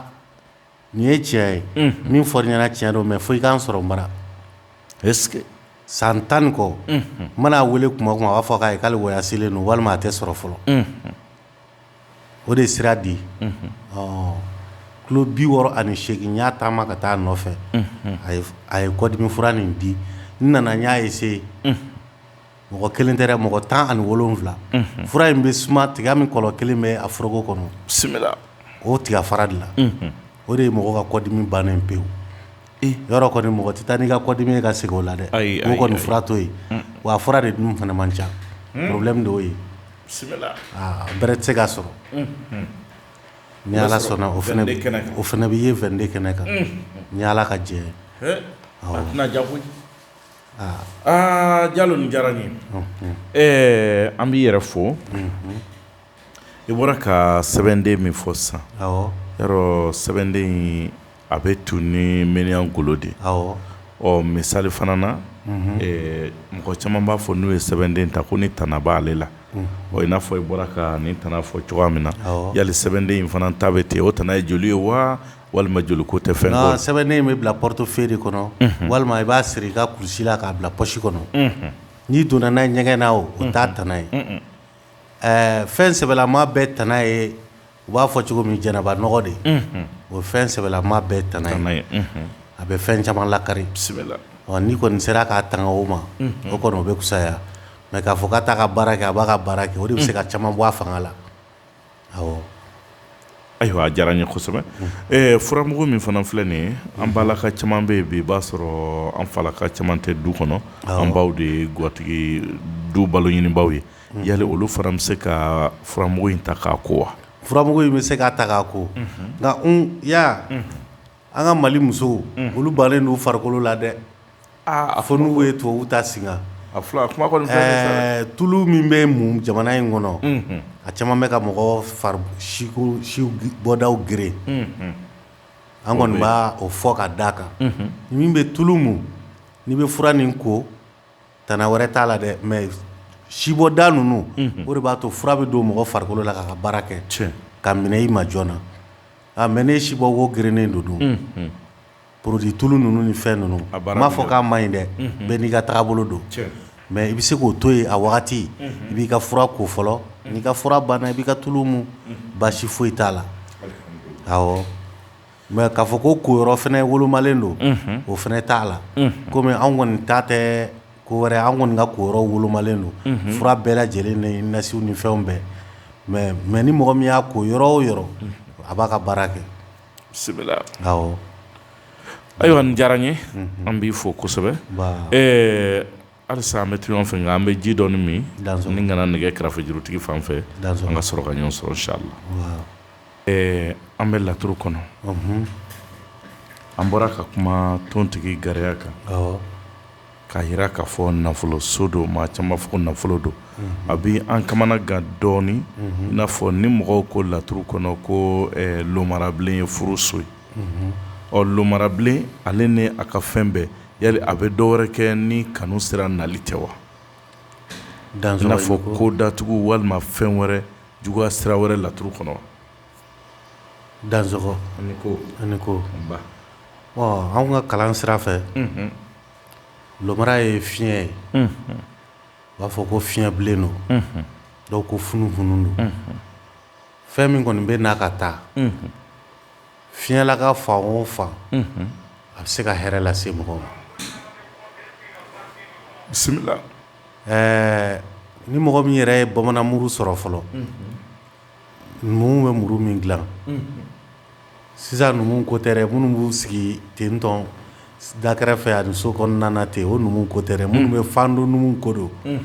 nin ye tiɲɛ ye min fɔra i ɲɛna tiɲɛ don mɛ fo i ka n sɔrɔ n bara san tan kɔ n mana a weele tuma o tuma a b'a fɔ k'ale woyazelen don walima a tɛ sɔrɔ fɔlɔ o de sira di kilo bi wɔɔrɔ ani segin n y'a taama ka taa nɔfɛ a ye kɔdimi fura nin di n nana n y'a ye se mɔgɔ kelen tɛ mɔgɔ tan ani wolonwula fura in bɛ suma tiga min kɔlɔ kelen bɛ a foroko kɔnɔ bisimila o tigafara dilan o de ye mɔgɔ ka kɔdimi bannen pewu Yɔrɔ kɔni mɔgɔ tɛ taa n'i ka kɔdimi ye ka segin o la dɛ kɔni fura to yen wa fura de dun fana man ca porobulɛmu de o ye bɛrɛ tɛ se ka sɔrɔ ni ala sɔnna o fana o fana bɛ ye vente kɛnɛ kan ni ala ka jɛ jaja jalo diyara n ye an b'i yɛrɛ fo I bɔra ka sɛbɛnden min fɔ sisan sɛbɛnden a bɛ tu ni miniyan golo de ɔ misali fana na mɔgɔ caman b'a fɔ n'u ye sɛbɛnden ta ko nin tana b'ale la i n'a fɔ i bɔra ka nin tana fɔ cogoya min na yala sɛbɛnden in fana ta bɛ ten o tana ye joli ye wa walima joli ko tɛ fɛn sɛbɛnden in bɛ bila portefeuille kɔnɔ walima i b'a siri i ka kulusi la k'a bila pɔsi kɔnɔ n'i donna n'a ye ɲɛgɛn na o t'a tana ye Ɛɛ fɛn sɛbɛlama bɛɛ tana ye u b'a fɔ cogo min janaba nɔgɔ de o fɛn sɛbɛlama bɛɛ tana ye a bɛ fɛn caman lakari n'i kɔni sera k'a tanga o ma o kɔni o bɛ fisaya mɛ k'a fɔ k'a t'a ka baara kɛ a b'a ka baara kɛ o de bɛ se ka caman bɔ a fanga la Ayiwa a diyara n ye kosɛbɛ furamugu min fana filɛ nin ye an ba laka caman bɛ yen i b'a sɔrɔ an fa laka caman tɛ du kɔnɔ an baw de ye gatigi du balo ɲinibaw ye yali olu fana bɛ se ka furamugu in ta k'a ko wa furamugu in bɛ se ka ta k'a ko nka ya An ka mali musow olu bannen don farikolo la dɛ a fɔ n'u ye tulu ta sigi tulu min bɛ mun jamana in kɔnɔ a caman bɛ ka mɔgɔ bɔdaw geren an kɔni b'o fɔ ka da a kan min bɛ tulu mun n'i bɛ fura nin ko tana wɛrɛ t'a la dɛ mɛ sibɔda ninnu o de b'a to fura bɛ don mɔgɔ farikolo la k'a ka baara kɛ ka minɛ i ma joona na A mɛ ni si bɔ wo gerennen don dun porodi tulu ninnu ni fɛn ninnu n m'a fɔ k'a man ɲi dɛ bɛɛ n'i ka taga bolo don mɛ i bɛ se k'o to yen a wagati i b'i ka fura ko fɔlɔ n'i ka fura banna i b'i ka tulu mun baasi foyi t'a la ɔ mɛ k'a fɔ ko ko yɔrɔ fana wolomalen don o fana t'a la kɔmi anw kɔni ta tɛ ko wɛrɛ an kɔni ka ko yɔrɔ wolomalen don fura bɛɛ lajɛlen ni nasiw ni fɛnw bɛɛ mɛ mɛ ni mɔgɔ min y'a ko yɔrɔ o yɔrɔ a b'a ka baara kɛ sɛbɛ la ayiwa a diyara an ye an b'i fo kosɛbɛ ɛɛ alisa an bɛ to ɲɔgɔn fɛ an bɛ ji dɔɔnin min an ka na nɛgɛ karafe jurutigi fan fɛ an ka sɔrɔ ka ɲɔgɔn sɔrɔ insala Ɛɛ an bɛ laturu kɔnɔ an bɔra ka kuma tontigi garaya kan k'a jira k'a fɔ nafolo so don maa caman b'a fɔ nafolo don a bɛ an kamanagan dɔɔnin in n'a fɔ ni mɔgɔw ko laturu kɔnɔ ko lomarabilen ye furu so ye ɔ lomarabilen ale ni a ka fɛn bɛɛ ya a bɛ dɔ wɛrɛ kɛ ni kanu sira nali tɛ wa an fɔ ko datugu walima fɛn wɛrɛ juguya sira wɛrɛ laturu kɔnɔ Dansɔgɔ ani ko ani ko an ka kalan sira fɛ lomara ye fiɲɛ ye u b'a fɔ ko fiɲɛbilen don dɔw ko funu funu don fɛn min kɔni bɛ na ka taa fiɲɛla ka fan o fan a bɛ se ka hɛrɛ lase mɔgɔw ma bisimila ɛɛ ni mɔgɔ min yɛrɛ ye bamanan muru sɔrɔ fɔlɔ, unhun, numuw bɛ muru min dilan, unhun, sisan numuw ko tɛ dɛ, minnu b'u sigi ten tɔn da kɛrɛfɛ ani so kɔnɔna na ten, o numuw ko tɛ dɛ, minnu bɛ fando numuw ko don, unhun,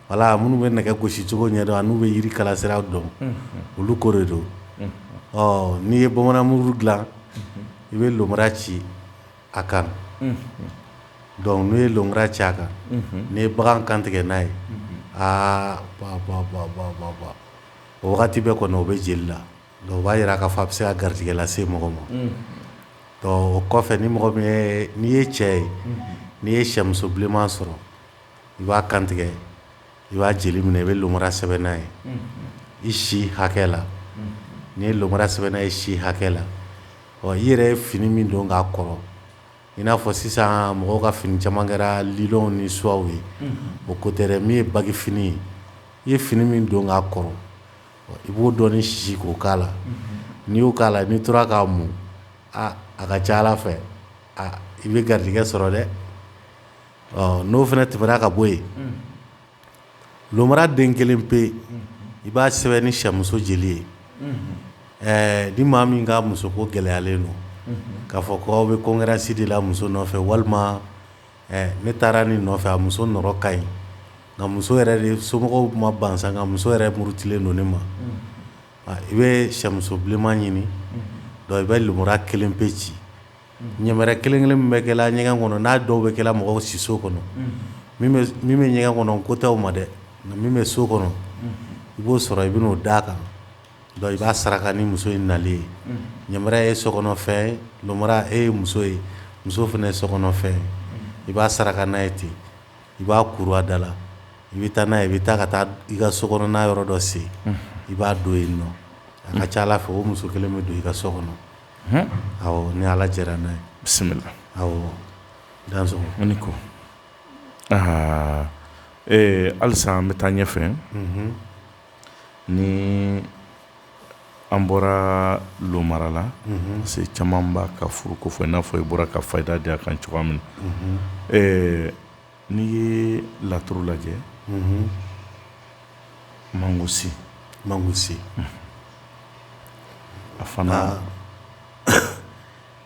voila minnu bɛ nɛgɛ gosi cogo ɲɛdɔn ani minnu bɛ jiri kalasiraw dɔn, unhun, olu ko de don, unhun, ɔ n'i ye bamanan muru dilan, unhun, i bɛ lomara ci a kan dɔnku n'u ye lomara ci a kan n'i ye bagan kan tigɛ n'a ye aa o wagati bɛ kɔnɔ o bɛ jeli la o b'a jira k'a fɔ a bɛ se ka garijɛgɛ lase mɔgɔ ma o kɔfɛ ni mɔgɔ min ye n'i ye cɛ ye n'i ye sɛmuso bilenman sɔrɔ i b'a kantigɛ i b'a jeli minɛ i bɛ lomara sɛbɛn n'a ye i si hakɛ la n'i ye lomara sɛbɛn n'a ye i si hakɛ la ɔ i yɛrɛ ye fini min don k'a kɔrɔ i n'a fɔ sisan mɔgɔw ka fini caman kɛra liw ni suwaw ye o ko tɛ min ye bagi fini ye i ye fini min don k'a kɔrɔ i b'o dɔɔnin si k'a k'a la n'i y'o k'a la n'i tora k'a mun a ka ca ala fɛ i bɛ garijɛgɛ sɔrɔ dɛ ɔ n'o fana tɛmɛna ka bɔ yen, unhun, lomara den kelen pe, unhun, i b'a sɛbɛn ni sɛmuso jeli ye, unhun, ɛɛ ni maa min ka musoko gɛlɛyalen don, unhun, k'a fɔ k'aw bɛ konkuransi de la muso nɔfɛ walima ɛɛ ne taara nin nɔfɛ a muso nɔrɔ ka ɲi nka muso yɛrɛ de somɔgɔw ma ban sa nka muso yɛrɛ murutilen don ne ma, unhun, i bɛ sɛmuso bilenman ɲini, unhun, donc i bɛ lomara kelen pe ci ɲɛbɛrɛ kelenkelen bɛ kɛ ɲɛgɛn kɔnɔ n'a dɔw bɛ kɛ mɔgɔw siso kɔnɔ min bɛ ɲɛgɛn kɔnɔ ko tɛ ma dɛ nka min bɛ so kɔnɔ i b'o sɔrɔ i b'o da a kan i b'a saraka ni muso in nalen ye ɲa ye sokɔnɔfɛn ye muso ye muso fana ye sokɔnɔfɛn ye i b'a saraka n'a ye ten i b'a kurada la i bɛ taa n'a i bɛ taa ka taa i ka so kɔnɔna yɔrɔ dɔ sen i b'a don yen ɔ a ka ca ala fɛ o muso kelen bɛ don i ka so kɔnɔ ni ala jɛra n'a ye bisimila dan ne ko aa ee halisa an bɛ taa ɲɛ fɛ ni an bɔra lomara la se caman b'a ka furuko fɔ i n'a fɔ i bɔra ka fayida di a kan cogoya min na N'i ye laturu lajɛ mangusi mangusi a fana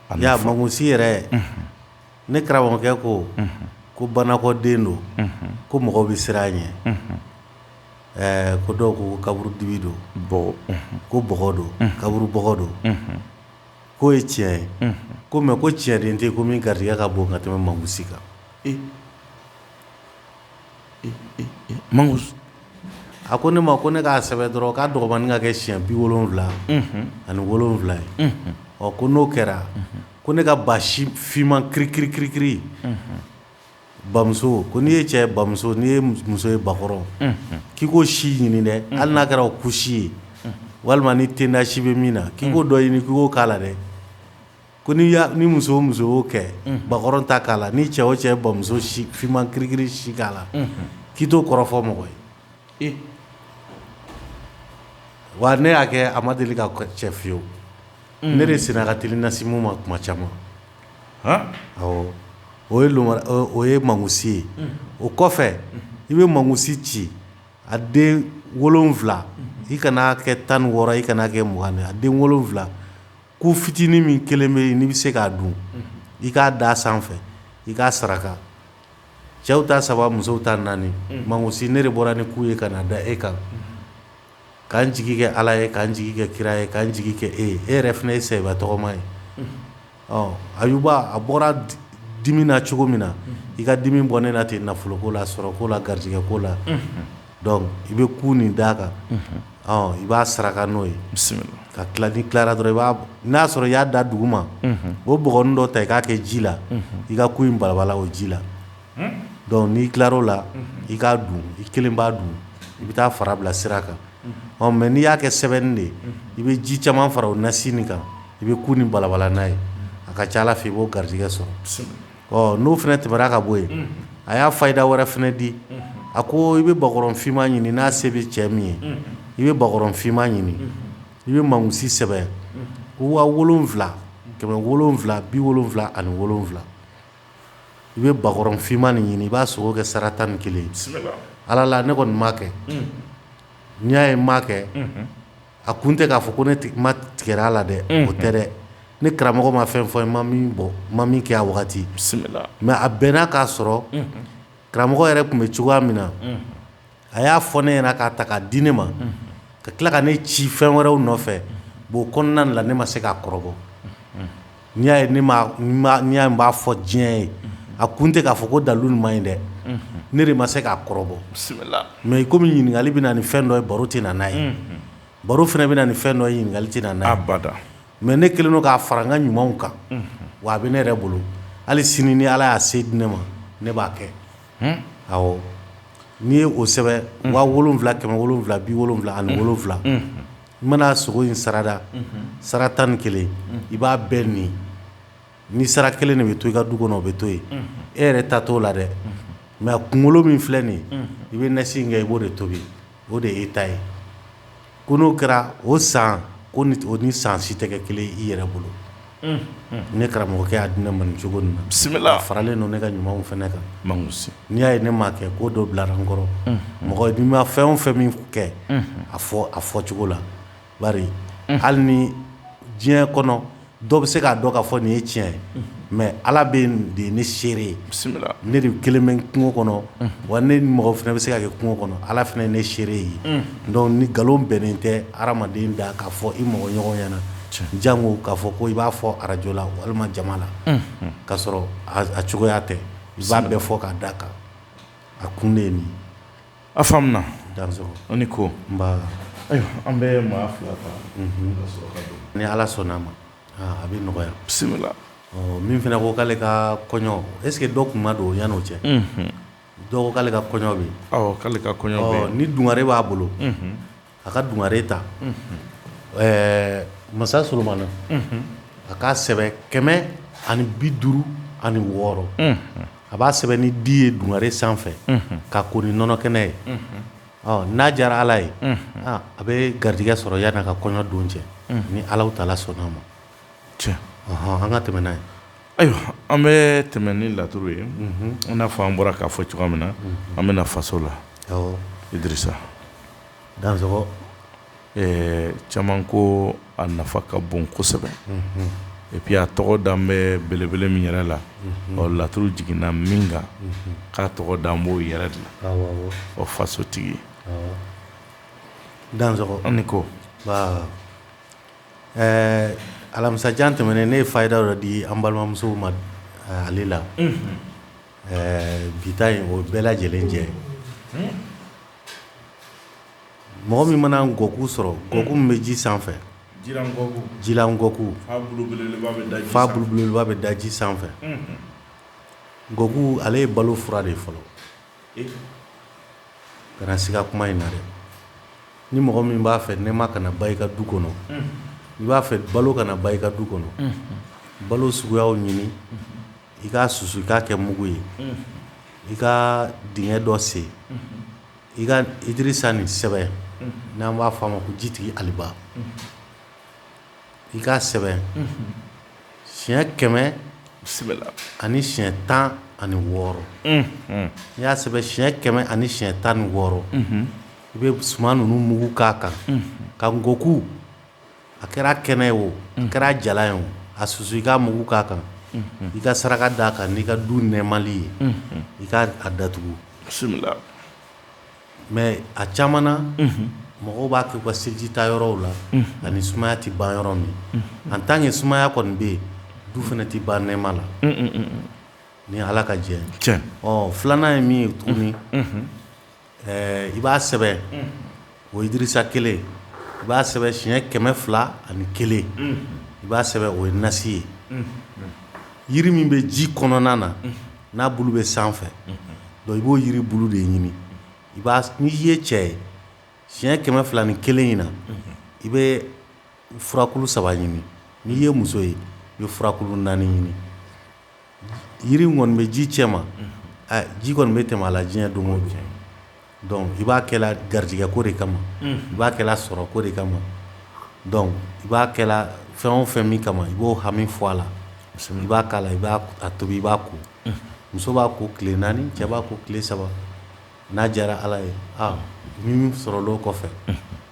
a y'a mangusi yɛrɛ ne karamɔgɔkɛ ko ko banakɔ den don ko mɔgɔ bɛ siran a ɲɛ ɛɛ ko dɔw ko kaburudibi don ko bɔgɔ don kaburu bɔgɔ don k'o ye tiɲɛ ye ko mɛ ko tiɲɛden tɛ ko min garisigɛ ka bon ka tɛmɛ mangusi kan man a ko ne ma ko ne k'a sɛbɛn dɔrɔn k'a dɔgɔmannin ka kɛ siɲɛ bi wolonfila ani wolonfila ye ɔ ko n'o kɛra ko ne ka ba finman kiri kiri kiri kiri bamuso ko n'i ye cɛ bamuso n'i ye muso ye bakɔrɔn k'i k'o si ɲini dɛ hali n'a kɛra o ku si ye walima ni tenda si bɛ min na k'i k'o dɔ ɲini k'i k'o k'a la dɛ Ko ni ni muso muso kɛ bakɔrɔn ta k'a la ni cɛ o cɛ bamuso finman kirikiri si k'a la k'i t'o kɔrɔ fɔ mɔgɔ ye wa ne y'a kɛ a ma deli ka cɛ fiyewu ne de sen ka t nasimu ma kuma caman ɔ o ye o ye mangusi ye o kɔfɛ i bɛ mangusi ci a den wolonfila i kana kɛ tan ni wɔɔrɔ i kana kɛ mugan a den wolonwula ku fitinin min kelen bɛ yen n'i bɛ se k'a dun i k'a da sanfɛ i k'a saraka cɛw ta saba musow ta naani mawusi ne de bɔra ni ku ye ka na da e kan ka n jigi kɛ ala ye ka n jigi kɛ kira ye ka n jigi kɛ e e yɛrɛ fana ye i saaba tɔgɔma ye ayuba a bɔra dimi na cogo min na i ka dimi bɔ ne na ten nafoloko la sɔrɔko la garijɛgɛko la dɔnku i bɛ ku nin d'a kan i b'a saraka n'o ye ka tila n'i tilara dɔrɔn i b'a n'a y'a sɔrɔ i y'a da dugu ma i b'o bɔgɔ nin dɔ ta i k'a kɛ ji la i ka ku in balabala o ji la dɔnku n'i tilar' o la i k'a dun i kelen b'a dun i bɛ taa fara bila sira kan ɔ mɛ n'i y'a kɛ sɛbɛnni de i bɛ ji caman fara o nasi nin kan i bɛ ku nin balabala n'a ye a ka ca ala fɛ i b'o garijɛgɛ sɔrɔ ɔ n'o fana tɛmɛna ka bɔ yen, a y'a fayida wɛrɛ fana di, a ko i bɛ bakɔrɔn finma ɲini n'a se bɛ cɛ min ye, i bɛ bakɔrɔn finma ɲini, i bɛ mawusi sɛbɛn wa wolonwula, kɛmɛ wolonwula, bi wolonwula ani wolonwula, i bɛ bakɔrɔn finma nin ɲini i b'a sogo kɛ sara tan ni kelen ye, bisimila, Ala la ne kɔni m'a kɛ, n'i y'a ye n m'a kɛ a kun tɛ k'a fɔ ko ne ma tigɛ a la dɛ o tɛ dɛ ni karamɔgɔ ma fɛn fɔ ma min bɔ ma min kɛ a wagati mɛ a bɛnna k'a sɔrɔ karamɔgɔ yɛrɛ tun bɛ cogoya min na a y'a fɔ ne ɲɛna k'a ta k'a di ne ma ka tila ka ne ci fɛn wɛrɛw nɔfɛ o kɔnɔna la ne ma se k'a kɔrɔbɔ n'i y'a ye ne m'a n m'a n'i y'a ye n b'a fɔ diɲɛ ye unhun a kun tɛ k'a fɔ ko dalu nin man ɲi dɛ unhun ne de ma se k'a kɔrɔbɔ bisimila mais i comme ɲininkali bɛ na ni fɛn dɔ ye baro tɛ na n'a ye unhun baro fɛnɛ bɛ na ni fɛn dɔ ye ɲininkali tɛ na n'a ye abada mais ne kɛlen don k'a fara n ka ɲumanw kan unhun wa a be ne yɛrɛ bolo hali sini ni Ala y'a se di ne ma ne b'a kɛ hun awɔ n'i ye o sɛbɛn unhun 7000 770 ani wolonwula unhun I mana sogo in sara da sara tan ni kelen i b'a bɛɛ ni ni sara kelen de bɛ to i ka du kɔnɔ o bɛ to yen e yɛrɛ ta t'o la dɛ mɛ a kunkolo min filɛ nin i bɛ nasi nin kɛ i b'o de tobi o de e ta ye ko n'o kɛra o san o ni san si tɛ kɛ kelen i yɛrɛ bolo ne karamɔgɔkɛ y'a di ne ma cogo min na bisimila faralen don ne ka ɲumanw fana kan n'i y'a ye ne m'a kɛ ko dɔ bilara n kɔrɔ mɔgɔ n'i ma fɛn o fɛn min kɛ a fɔ a fɔ cogo la bari hali ni diɲɛ kɔnɔ dɔw bɛ se k'a dɔn ka fɔ nin ye tiɲɛ ye mɛ ala bɛ de ye ne seere ye bisimila ne de kelen bɛ kungo kɔnɔ wa ne mɔgɔ fana bɛ se ka kɛ kungo kɔnɔ ala fana ye ne seere ye dɔnku ni nkalon bɛnnen tɛ hadamaden da k'a fɔ i mɔgɔ ɲɔgɔn ɲɛna janko k'a fɔ ko i b'a fɔ arajo la walima jama la k'a sɔrɔ a cogoya tɛ i b'a bɛɛ fɔ k'a d'a kan a kun de ye min a faamuya dan an ni ko an bɛ maa fila ni ala sɔnna a ma a bɛ nɔgɔya bisimila min fana ko k'ale ka kɔɲɔ e dɔ tun ma don o yan n'o cɛ dɔw k'ale ka kɔɲɔ bɛ k'ale ka kɔɲɔ ni dungare b'a bolo a ka dungare ta ɛɛ masa solomana a k'a sɛbɛn kɛmɛ ani bi duuru ani wɔɔrɔ a b'a sɛbɛn ni di ye dungare sanfɛ k'a ko ni nɔnɔ kɛnɛ ye ɔ n'a diyara ala ye a bɛ garijɛgɛ sɔrɔ yann'a ka kɔɲɔ don cɛ ni ala tala sɔnn'a ma cɛ an ka tɛmɛ n'a ye ayiwa an bɛ tɛmɛ ni laturu ye n'a fɔ an bɔra k'a fɔ cogoya min na an bɛ na faso la idirisa dan caman ko a nafa ka bon kosɛbɛ epi a tɔgɔ dan bɛ belebele min yɛrɛ la ɔ laturu jiginna min kan k'a tɔgɔ dan b'o yɛrɛ de la o fasotigi dan an ko ɛɛ alamisadon tɛmɛnen ne ye faida dɔ di an balimamusow ma ale la ɛɛ bi yen o bɛɛ lajɛlen jɛ Mɔgɔ min mana nkɔku sɔrɔ nkɔku min bɛ ji sanfɛ jilankɔku fura belebeleba bɛ da ji sanfɛ nkɔku ale ye balo fura de fɔlɔ kana siga kuma in na dɛ ni mɔgɔ min b'a fɛ nɛɛma kana ban i ka du kɔnɔ i b'a fɛ balo kana ban i ka du kɔnɔ balo suguya ɲini i k'a susu i k'a kɛ mugu ye i ka dingɛ dɔ sen i ka idirisa nin sɛbɛn n'an b'a f'a ma ko jitigi aliba i k'a sɛbɛn siɲɛ kɛmɛ ani siɲɛ tan ani wɔɔrɔ n'i y'a sɛbɛn siɲɛ kɛmɛ ani siɲɛ tan ni wɔɔrɔ i bɛ suman ninnu mugu k'a kan ka nkɔku a kɛra kɛnɛ ye o a kɛra jalan ye o a susu i k'a mugu k'a kan i ka saraka d'a kan n'i ka du nɛɛma ye i ka a datugu mɛ a caman na mɔgɔw b'a kɛ ka selijita yɔrɔw la ani sumaya tɛ ban yɔrɔ min an tan kɛ sumaya kɔni bɛ yen du fana tɛ ban nɛɛma la ni ala ka jɛ filanan ye min ye tuguni Ɛɛ i b'a sɛbɛn ozsa kelen i b'a sɛbɛn siɲɛ kɛmɛ fila ani kelen i b'a sɛbɛn o ye nasi ye jiri min bɛ ji kɔnɔna na n'a bulu bɛ sanfɛ donc i b'o jiri bulu de ɲini n'i ye cɛ ye siɲɛ kɛmɛ fila ni kelen in na i bɛ furakuru saba ɲini n'i ye muso ye i bɛ furakuru naani ɲini Yiri kɔni bɛ ji cɛma ji kɔni bɛ tɛmɛ a la diɲɛ don o cɛ i b'a kɛ la garijɛgɛ ko de kama i b'a kɛ sɔrɔ ko de kama i b'a kɛ la fɛn o fɛn min kama i b'o hami fɔ a la i b'a k'a la i b'a tobi i b'a ko muso b'a ko tile naani cɛ b'a ko tile saba n'a diyara ala ye min sɔrɔ kɔfɛ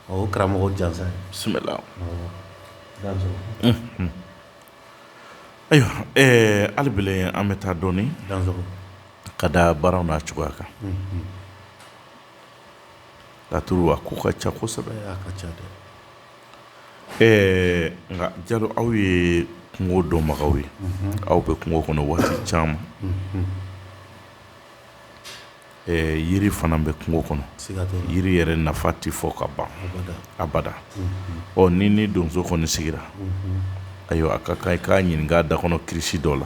o karamɔgɔ jansa ye Ayiwa ali an bɛ taa dɔɔnin ka da baara n'a cogoya kan katugu a ko ka ca kosɛbɛ ka ca dɛ nka Jalo aw ye kungo dɔnbagaw ye aw bɛ kungo kɔnɔ waati caman Yiri fana bɛ kungo kɔnɔ jiri yɛrɛ nafa tɛ fɔ ka ban abada ɔ ni ni donso kɔni sigira ayiwa a ka kan i k'a ɲininka da kɔnɔ kirisi dɔ la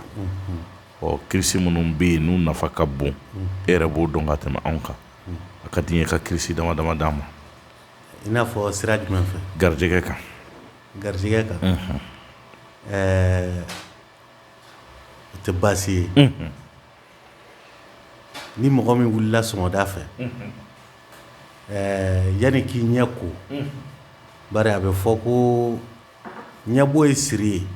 ɔ kirisi minnu bɛ yen n'u nafa ka bon e yɛrɛ b'o dɔn ka tɛmɛ anw kan a ka di n ye ka kirisi dama dama d'an ma i n'a fɔ sira jumɛn fɛ garijɛgɛ kan garijɛgɛ kan ɛɛ o tɛ baasi ye Ni mɔgɔ min wulila sɔgɔmada fɛ ɛɛ yanni k'i ɲɛ ko bari a bɛ fɔ ko ɲɛbo ye siri ye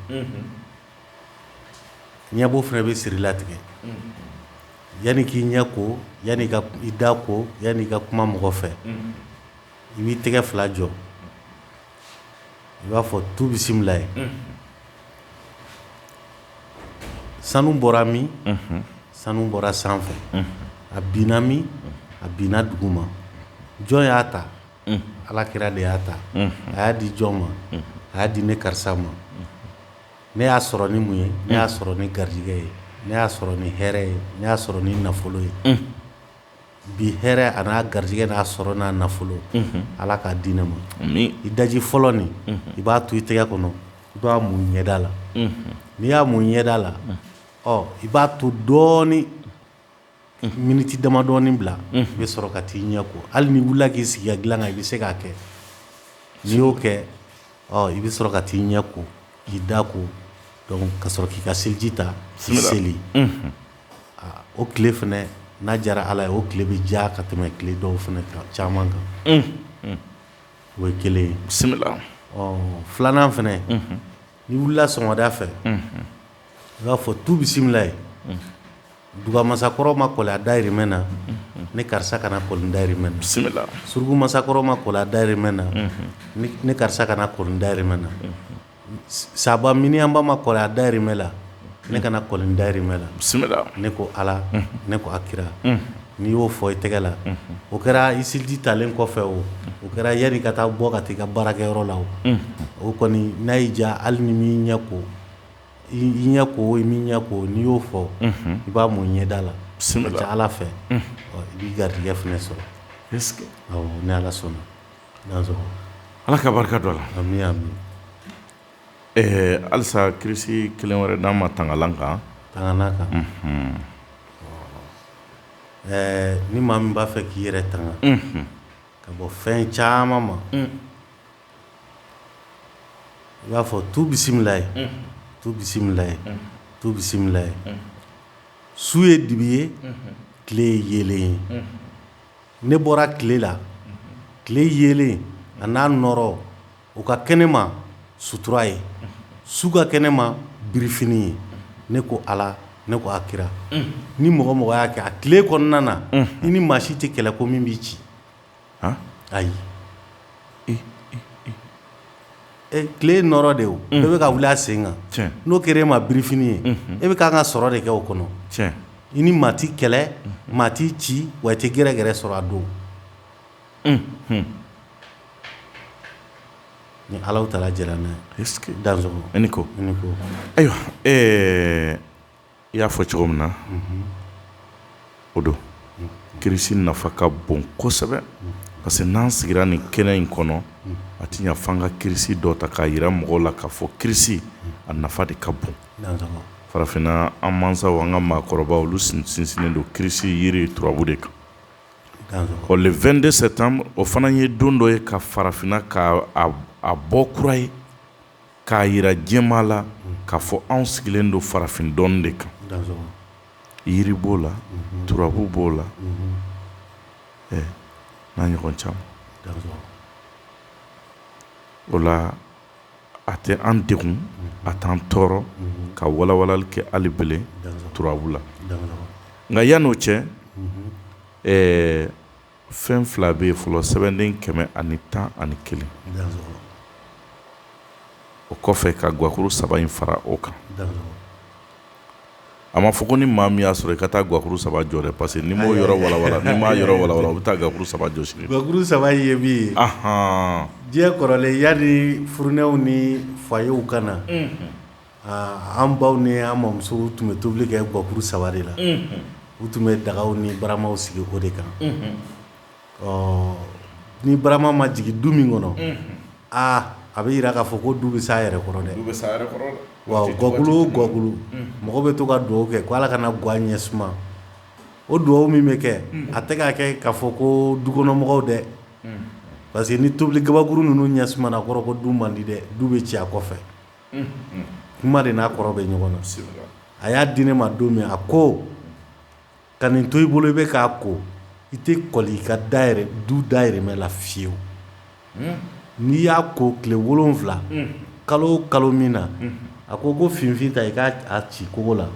ɲɛbo fana bɛ siri latigɛ yanni k'i ɲɛ ko yanni i da ko yanni i ka kuma mɔgɔ fɛ i b'i tɛgɛ fila jɔ i b'a fɔ tu bisimilayi sanu bɔra min sanu bɔra sanfɛ a binna min a binna duguma jɔn y'a ta ala kira de y'a ta a y'a di jɔn ma a y'a di ne karisa ma ne y'a sɔrɔ ni mun ye ne y'a sɔrɔ ni garijɛgɛ ye ne y'a sɔrɔ ni hɛrɛ ye ne y'a sɔrɔ ni nafolo ye bi hɛrɛ a n'a garijɛgɛ n'a sɔrɔ n'a nafolo ala k'a di ne ma i daji fɔlɔ nin i b'a tu i tɛgɛ kɔnɔ i b'a mun i ɲɛda la n'i y'a mun i ɲɛda la ɔ i b'a to dɔɔnin miniti dama dɔɔnin bila i bɛ sɔrɔ ka t'i ɲɛ ko hali n'i wulila k'i sigi dilan kan i bɛ se k'a kɛ n'i y'o kɛ i bɛ sɔrɔ ka t'i ɲɛ ko k'i da ko ka sɔrɔ k'i ka seliji ta k'i seli O tile fana n'a diyara ala ye o tile bɛ diya ka tɛmɛ tile dɔw fana caman kan o ye kelen ye filanan fana n'i wulila sɔgɔmada fɛ i b'a fɔ tu bisimila ye duga masakɔrɔ ma kɔli a dayirimɛ na ne karisa kana kɔli n dayirimɛ na surugu masakɔrɔ ma kɔli a dayirimɛ na ne karisa kana kɔli n dayirimɛ na saba miniyanba ma kɔli a dayirimɛ la ne kana kɔli n dayirimɛ la ne ko ala ne ko a kira n'i y'o fɔ i tɛgɛ la o kɛra i seliji talen kɔfɛ o o kɛra yann'i ka taa bɔ ka taa i ka baarakɛyɔrɔ la o o kɔni n'a y'i diya hali n'i m'i ɲɛ ko i ɲɛ ko o i m'i ɲɛ ko n'i y'o fɔ i b'a mun ɲɛda la ala fɛ i b'i garijɛgɛ fana sɔrɔ ni ala sɔnna ala ka barika don a la halisa kirisi kelen wɛrɛ d'an ma tangalan kan kan ɛɛ ni maa min b'a fɛ k'i yɛrɛ tanga ka bɔ fɛn caman ma i b'a fɔ tu bisimila ye tu bisimila ye tu bisimila ye su ye dibi ye tile ye yeelen ye Ne bɔra tile la tile yeelen an'a nɔɔrɔ o ka kɛ ne ma sutura ye su ka kɛ ne ma birifini ye ne ko ala ne ko a kira ni mɔgɔ mɔgɔ y'a kɛ a tile kɔnɔna na i ni maa si tɛ kɛlɛ ko min b'i ci ayi tile nɔɔrɔ de o bɛ ka wuli a sen kan n'o kɛra e ma birifini ye e bɛ ka ka sɔrɔ de kɛ o kɔnɔ i ni maa tɛ kɛlɛ maa t'i ci wa i tɛ gɛrɛgɛrɛ sɔrɔ a don ni ala taala jɛnna n'a ye ko ayiwa i y'a fɔ cogo min na o don kirisi nafa ka bon kosɛbɛ parce que n'an sigira nin kɛnɛ in kɔnɔ a tɛ ɲɛ f'an ka kirisi dɔ ta k'a jira mɔgɔw la k'a fɔ kirisi a nafa de ka bon farafinna an masaw an ka maakɔrɔba olu sinsinnen don kirisi yiri turabu de kan ɔ le 22 septembre o fana ye don dɔ ye ka farafinna ka a bɔ kura ye k'a jira diɲɛmaa la k'a fɔ anw sigilen don farafin dɔnni de kan, yiri b'o la, turabu b'o la, ɛ n'a ɲɔgɔn caman, o la a tɛ an degun, a t'an tɔɔrɔ ka walawalali kɛ hali bilen turabu la, nka yann'o cɛ ɛɛ fɛn fila bɛ yen fɔlɔ sɛbɛnden kɛmɛ ani tan ani kelen o kɔfɛ ka gakulu saba in fara o kan a ma fɔ ko ni maa min y'a sɔrɔ i ka taa gakulu saba jɔ dɛ parce que ni maaw yɔrɔ wawa ni maa yɔrɔ wawa u bɛ taa gakulu saba jɔ sini gakulu saba ye min ye diɲɛ kɔrɔlen ya ni funɛw ni fa yew ka na Aa an baw ni an mamuso tun bɛ tobili kɛ gakuru saba de la u tun bɛ daga ni baramaw sigi o de kan ɔ ni barama ma jigin du min kɔnɔ aa a bɛ jira k'a fɔ ko du bɛ s'a yɛrɛ kɔrɔ dɛ gakulu gakulu mɔgɔ bɛ to ka dugawu kɛ ko ala kana an ga ɲɛ suma o dugawu min bɛ kɛ a tɛ k'a kɛ k'a fɔ ko du kɔnɔ mɔgɔw dɛ parce que ni tobili kabakuru ninnu ɲɛ suma kɔrɔ ko du man di dɛ du bɛ ci a kɔfɛ kuma de n'a kɔrɔ bɛ ɲɔgɔn na a y'a di ne ma don min a ko ka nin to i bolo i bɛ k'a ko i tɛ kɔli i ka da du dayɛrɛmɛ la fiyewu n'i y'a ko tile wolon wolonwula kalo kalo min na a ko ko finfin ta i k'a ci kogo la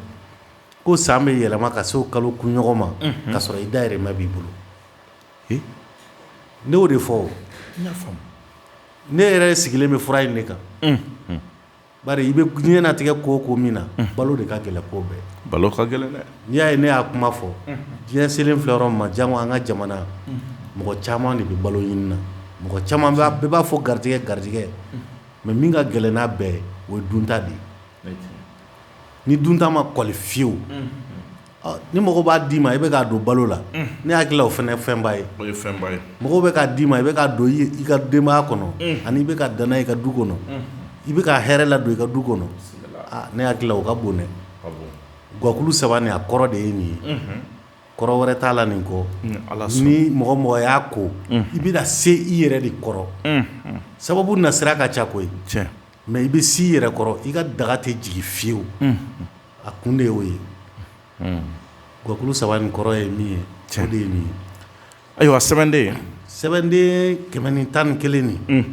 ko san bɛ yɛlɛma ka se o kalo kun ɲɔgɔn ma k'a sɔrɔ i dayɛrɛmɛ b'i bolo ne y'o de fɔ ne yɛrɛ sigilen bɛ fura in de kan bari i bɛ ɲɛnatigɛ ko ko min na balo de ka gɛlɛn ko bɛɛ balo ka gɛlɛn dɛ n'i y'a ye ne y'a kuma fɔ diɲɛ selen filɛ yɔrɔ min na janko an ka jamana mɔgɔ caman de bɛ balo ɲini na mɔgɔ caman bɛɛ b'a fɔ garijɛgɛ garijɛgɛ mɛ min ka gɛlɛn n'a bɛɛ o ye dunta de ye ni dunta ma kɔli fiyewu ni mɔgɔ b'a d'i ma i bɛ k'a don balo la ne hakili o fana fɛnba ye mɔgɔ bɛ k'a d'i ma i bɛ k'a don i ka denbaya kɔnɔ ani i bɛ ka dan i ka du kɔnɔ i bɛ ka hɛrɛ ladon i ka du kɔnɔ ne hakili o ka bon gakulu saba ni a kɔrɔ de ye nin ye kɔrɔ wɛrɛ t'a la nin kɔ ni mɔgɔ mɔgɔ y'a ko i bɛ se i yɛrɛ de kɔrɔ sababu nasira ka ca koyi Mɛ i bɛ s'i yɛrɛ kɔrɔ i ka daga tɛ jigin fiyewu a kun de y'o ye gakulu saba nin kɔrɔ ye min ye cɛ de ye min ye ayiwa sɛbɛnden sɛbɛnden kɛmɛ ni tan ni kelen nin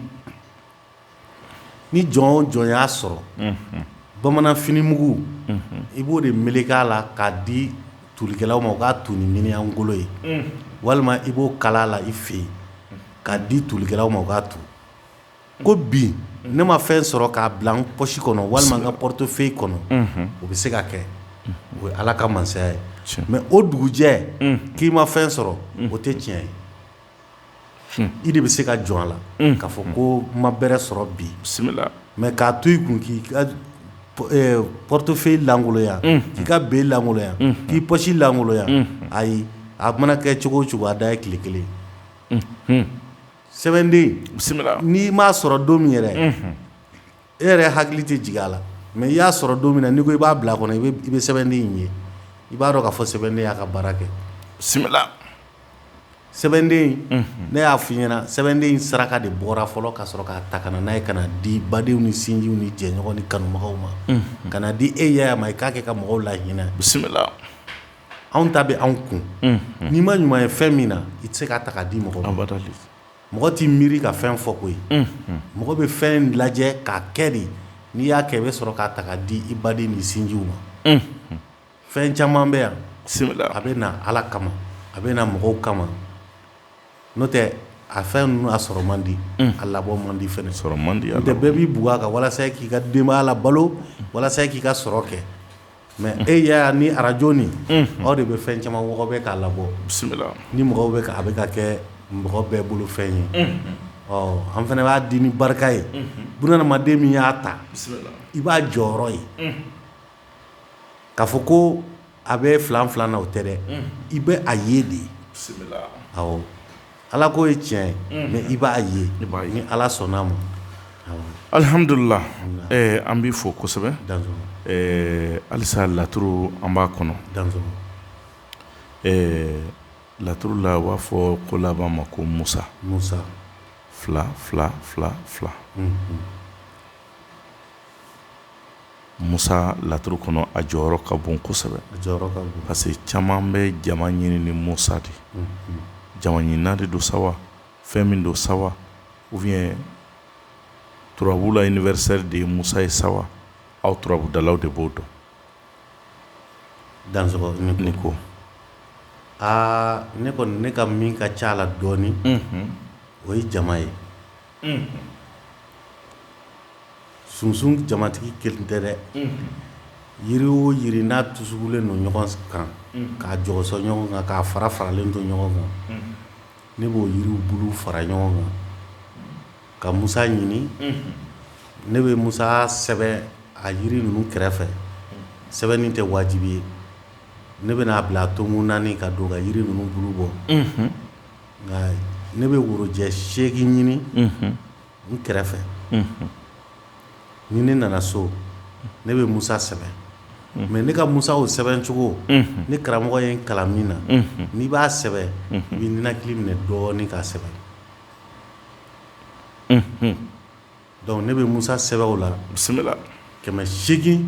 ni jɔn o jɔn y'a sɔrɔ bamanan finimugu i b'o de meleke a la k'a di tulikɛlaw ma u k'a tu ni miniɲan golo ye walima i b'o kala la i fɛ yen k'a di tulikɛlaw ma u k'a tu ko bi ne ma fɛn sɔrɔ k'a bila n pɔsi kɔnɔ walima n ka portefeuille kɔnɔ o bɛ se ka kɛ o ye ala ka masaya ye mɛ o dugujɛ k'i ma fɛn sɔrɔ o tɛ tiɲɛ ye i de bɛ se ka jɔ a la ka fɔ ko n ma bɛrɛ sɔrɔ bi bisimila mɛ k'a to i kun k'i ka portefeuille lankoloya k'i ka bin lankoloya k'i pɔsi lankoloya ayi a mana kɛ cogo o cogo a dan ye tile kelen sɛbɛnden bisimila n'i m'a sɔrɔ don min yɛrɛ e yɛrɛ hakili tɛ jigin a la mɛ i y'a sɔrɔ don min na n'i ko i b'a bila kɔnɔ i bɛ sɛbɛnden in ye i b'a dɔn ka fɔ sɛbɛnden y'a ka baara kɛ bisimila sɛbɛnden ne y'a fɔ i ɲɛna sɛbɛnden in saraka de bɔra fɔlɔ ka sɔrɔ k'a ta ka na n'a ye ka n'a di badenw ni sinjiw ni jɛɲɔgɔn ni kanumɔgɔw ma ka n'a di e yaya ma i k'a kɛ ka mɔgɔw lahinɛ bisimila anw ta bɛ anw kun n'i ma ɲuman ye fɛn min na i tɛ se ka taga di mɔgɔ mɔgɔ t'i miiri ka fɛn fɔ ko ye mɔgɔ bɛ fɛn lajɛ k'a kɛ de n'i y'a kɛ i bɛ sɔrɔ k'a taga di i baden ni sinjiw ma fɛn caman bɛ yan a bɛ na ala kama a bɛ na mɔgɔw kama n'o tɛ a fɛn ninnu a sɔrɔ man di a labɔ man di sɔrɔ man di bɛɛ b'i bugɔ a kan walasa k'i ka denbaya labalo walasa k'i ka sɔrɔ kɛ Mɛ e yaya ni arajo ni aw de bɛ fɛn caman mɔgɔ bɛ k'a labɔ bisimila ni mɔgɔw bɛ a bɛ ka kɛ mɔgɔ bɛɛ bolo fɛn ye ɔ an fana b'a di ni barika ye bunadamaden min y'a ta i b'a jɔyɔrɔ ye ka fɔ ko a bɛ filanfilan na o tɛ dɛ i bɛ a ye de ye Ala ko ye tiɲɛ ye i b'a ye ni ala sɔnna a ma alihamdulila an b'i fo kosɛbɛ halisa laturu an b'a kɔnɔ laturu la u b'a fɔ ko laban ma ko musa musa fila fila fila fila Musa laturu kɔnɔ a jɔyɔrɔ ka bon kosɛbɛ parce que caman bɛ jama ɲini ni musa de jama ɲinina de don sa fɛn min don sa ou bien turabu la universel de ye musa ye sa aw turabudalaw de b'o dɔn dan ne ko aa ne kɔni ne ka min ka ca la dɔɔnin o ye jama ye sunsun jamatigi kelen tɛ dɛ yiri o yiri n'a dusulen don ɲɔgɔn kan k'a jɔsɔ ɲɔgɔn kan k'a farafaralen don ɲɔgɔn kan ne b'o yiriw bulu fara ɲɔgɔn kan ka musa ɲini ne bɛ musa sɛbɛn a yiri ninnu kɛrɛfɛ sɛbɛnni tɛ wajibi ye ne bɛn'a bila a tomi naani ka don ka yiri ninnu bulu bɔ Ne bɛ worojɛ seegin ɲini n kɛrɛfɛ ni ne nana so ne bɛ musa sɛbɛn mɛ ne ka musa o sɛbɛncogo ne karamɔgɔ ye n kalan min na n'i b'a sɛbɛn i b'i ninakili minɛ dɔɔnin k'a sɛbɛn Dɔnku ne bɛ musa sɛbɛn o la bisimila kɛmɛ seegin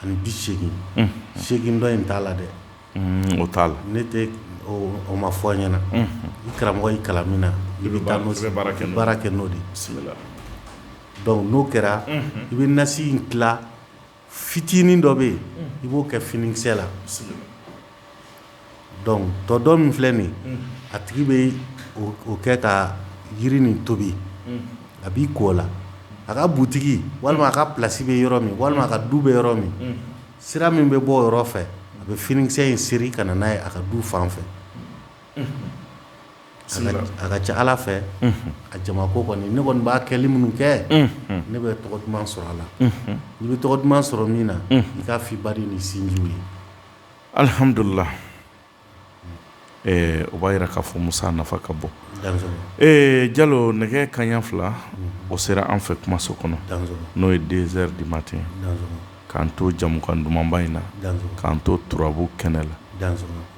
ani bi seegin ni seegin dɔ in t'a la dɛ o t'a la ne tɛ o ma fɔ n ɲɛna n karamɔgɔ y'i kalan min na i bɛ taa baara kɛ n'o de bisimila dɔnku n'o kɛra i bɛ nasi in tila fitinin dɔ bɛ yen i b'o kɛ finikisɛ la tɔ dɔ min filɛ nin a tigi bɛ o kɛ ka jiri nin tobi a b'i ko o la a ka butigi walima a ka plasi bɛ yɔrɔ min walima a ka du bɛ yɔrɔ min sira min bɛ bɔ o yɔrɔ fɛ a bɛ finikisɛ in seri ka na n'a ye a ka du fan fɛ a ka ca ala fɛ a jama ko kɔni ne kɔni b'a kɛli minnu kɛ ne bɛ tɔgɔ duman sɔrɔ a la i bɛ tɔgɔ duman sɔrɔ min na i ka di baden ni sinjiw ye alihamudulilahi o b'a jira k'a fɔ musa nafa ka bon jalo nɛgɛ kaɲa fila o sera an fɛ kumaso kɔnɔ n'o ye deux heures du matin k'an to jamukan dumanba in na k'an to turabu kɛnɛ la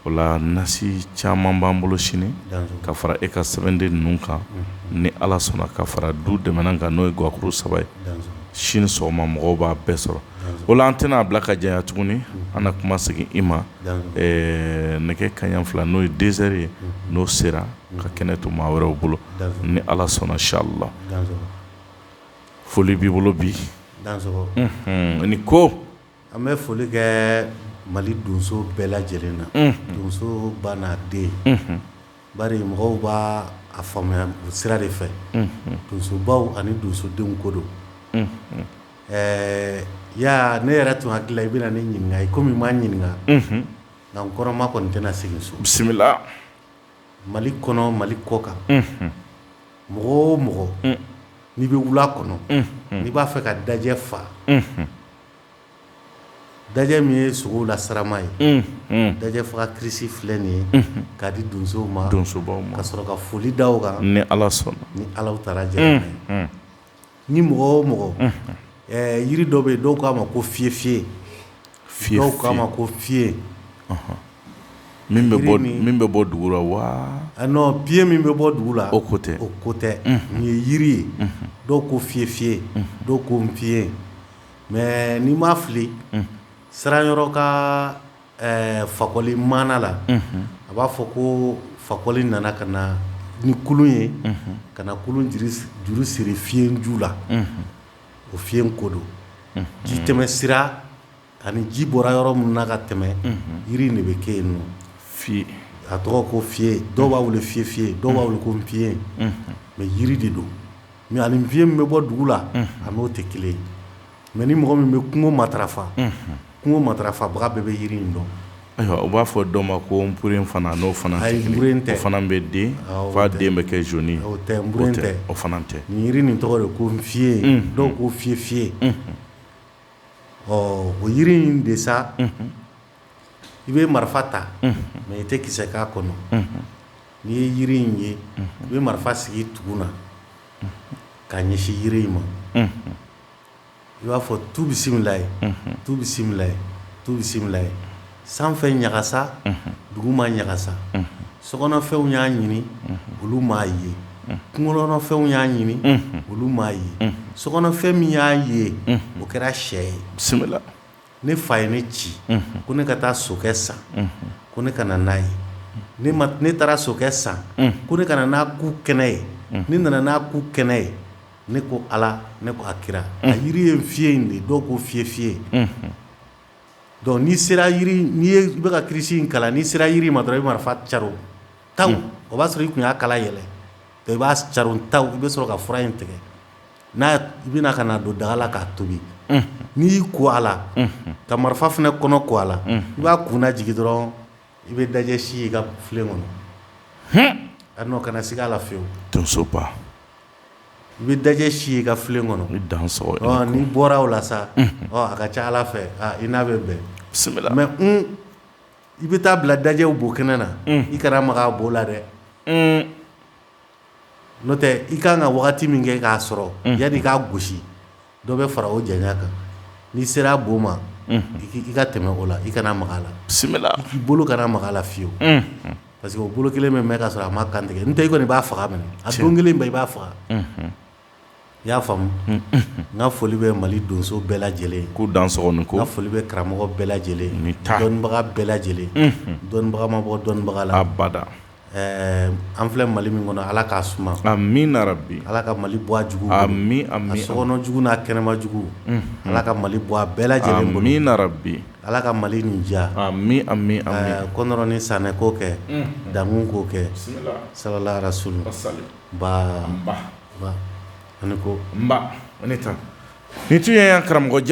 o la nasi caman b'an bolo sini ka fara e ka sɛbɛnden ninnu kan ni ala sɔnna ka fara du dɛmɛ kan n'o ye gakuru saba ye sini sɔgɔma mɔgɔw b'a bɛɛ sɔrɔ o la an tɛna a bila ka janya tuguni an ka kuma segin i ma nɛgɛ kaɲa fila n'o ye deux heures ye n'o sera ka kɛnɛ to maa wɛrɛw bolo ni ala sɔnna sali la foli b'i bolo bi ni ko an bɛ foli kɛ mali donso bɛɛ lajɛlen na donsoba n'a den bari mɔgɔw b'a faamuya o sira de fɛ donsobaw ani donsodenw ko don ɛɛ ya ne yɛrɛ tun hakili la i bɛna ne ɲininka i kɔmi i ma n ɲininka nka n kɔnɔma kɔni tɛna segin so bisimila Mali kɔnɔ mali kɔ kan mɔgɔ o mɔgɔ n'i bɛ wula kɔnɔ n'i b'a fɛ ka dajɛ fa dajɛ min ye sogow la sarama ye dajɛ faga kirisi filɛ nin ye ka di donsow ma donso ka sɔrɔ ka foli da u kan ni ala sɔnna ni ala taara jɛ ye Ni mɔgɔ o mɔgɔ yiri dɔ bɛ yen dɔw k'a ma ko fiyefiye dɔw k'a ma ko fiye min bɛ bɔ dugu la wa piye min bɛ bɔ dugu la o ko tɛ o ko tɛ nin ye yiri ye dɔw ko fiyefiye dɔw ko fiye mɛ ni n ma fili sara yɔrɔ ka Ɛɛ fakɔli maana la a b'a fɔ ko fakɔli nana ka na ni kulun ye ka na kulun juru siri fiye ju la o fiye in ko don ji tɛmɛ sira ani ji bɔra yɔrɔ min na ka tɛmɛ jiri de bɛ kɛ yen nɔ fi a tɔgɔ ko fiye dɔw b'a wele fiyefiye dɔw b'a wele ko npiye mɛ jiri de don mɛ ani npiye min bɛ bɔ dugu la a n'o tɛ kelen ye Mɛ ni mɔgɔ min bɛ kungo matarafa kungo matarafabaga bɛɛ bɛ yiri in dɔn ayiwa u b'a fɔ dɔw ma ko n purre fana n'o fana tɛ fana bɛ den fa den bɛ kɛ zoni o tɛ n tɛ o fana tɛ yiri nin tɔgɔ de ko fiye dɔw ko fiyefiye ɔ o yiri in de sa i bɛ marifa ta mɛ i tɛ kisɛ k'a kɔnɔ n'i ye yiri in ye i bɛ marifa sigi tugu na k'a ɲɛsin yiri in ma i b'a fɔ tu bisimila ye tu bisimila tu bisimila ye sanfɛ ɲagasa duguma ɲagasa sokɔnɔfɛnw y'a ɲini olu m'a ye kungokɔnɔfɛnw y'a ɲini olu m'a ye sokɔnɔfɛn min y'a ye o kɛra sɛ ye bisimila ne fa ye ne ci ko ne ka taa sokɛ san ko ne ka na n'a ye ne taara sokɛ san ko ne ka na n'a ku kɛnɛ ye ne nana n'a ku kɛnɛ ye ne ko ala ne ko a kira a jiri ye fiye in de dɔw ko fiyefiye dɔnku n'i sera yen i bɛ ka kilisi in kalan n'i sera jiri ma dɔrɔn i bɛ marifa ca tan o b'a sɔrɔ i tun y'a kala yɛlɛ i b'a ca ta i bɛ sɔrɔ ka fura in tigɛ n'a i bɛna ka n'a don daga la k'a tobi n'i y'i ko a la ka marifa fana kɔnɔ ko a la i b'a kun jigin dɔrɔn i bɛ dajɛ si i ka filen kɔnɔ a kana na se k' la fiyewu donsoba I bɛ dajɛ si ye i ka filen kɔnɔ ni dan n'i bɔra o la sa a ka ca ala fɛ i n'a bɛ bɛn bisimila mɛ i bɛ taa bila dajɛw bo kɛnɛ na i kana maga bo la dɛ n'o tɛ i ka kan ka waati min kɛ k'a sɔrɔ yani k'a gosi Dɔ bɛ fara o janya kan n'i sera a bo ma i ka tɛmɛ o la i kana maga a la bisimila k'i bolo kana maga a la fiyewu parce que o bolo kelen min bɛ ka sɔrɔ a ma kantigɛ n tɛ i kɔni b'a faga minɛ a don kelen bɛ i b'a faga i y'a faamumu n ka foli bɛ mali donso bɛɛ lajɛlen ko dan ko foli bɛ karamɔgɔ bɛɛ lajɛlen ni dɔnbaga bɛɛ lajɛlen dɔnbaga ma bɔ dɔnbaga la abada Ɛɛ an filɛ mali min kɔnɔ ala k'a suma amiina ala ka mali bɔ a jugu amiina a sokɔnɔ jugu n'a kɛnɛma jugu ala ka mali bɔ a bɛɛ lajɛlen bolo amiina ala ka mali nin diya amiina amiina kɔntɔrɔn ni sanɛ k'o kɛ dankun k'o kɛ salalayi rasulu sa ba ani ko ne taa ni tun ye karamɔgɔjɛ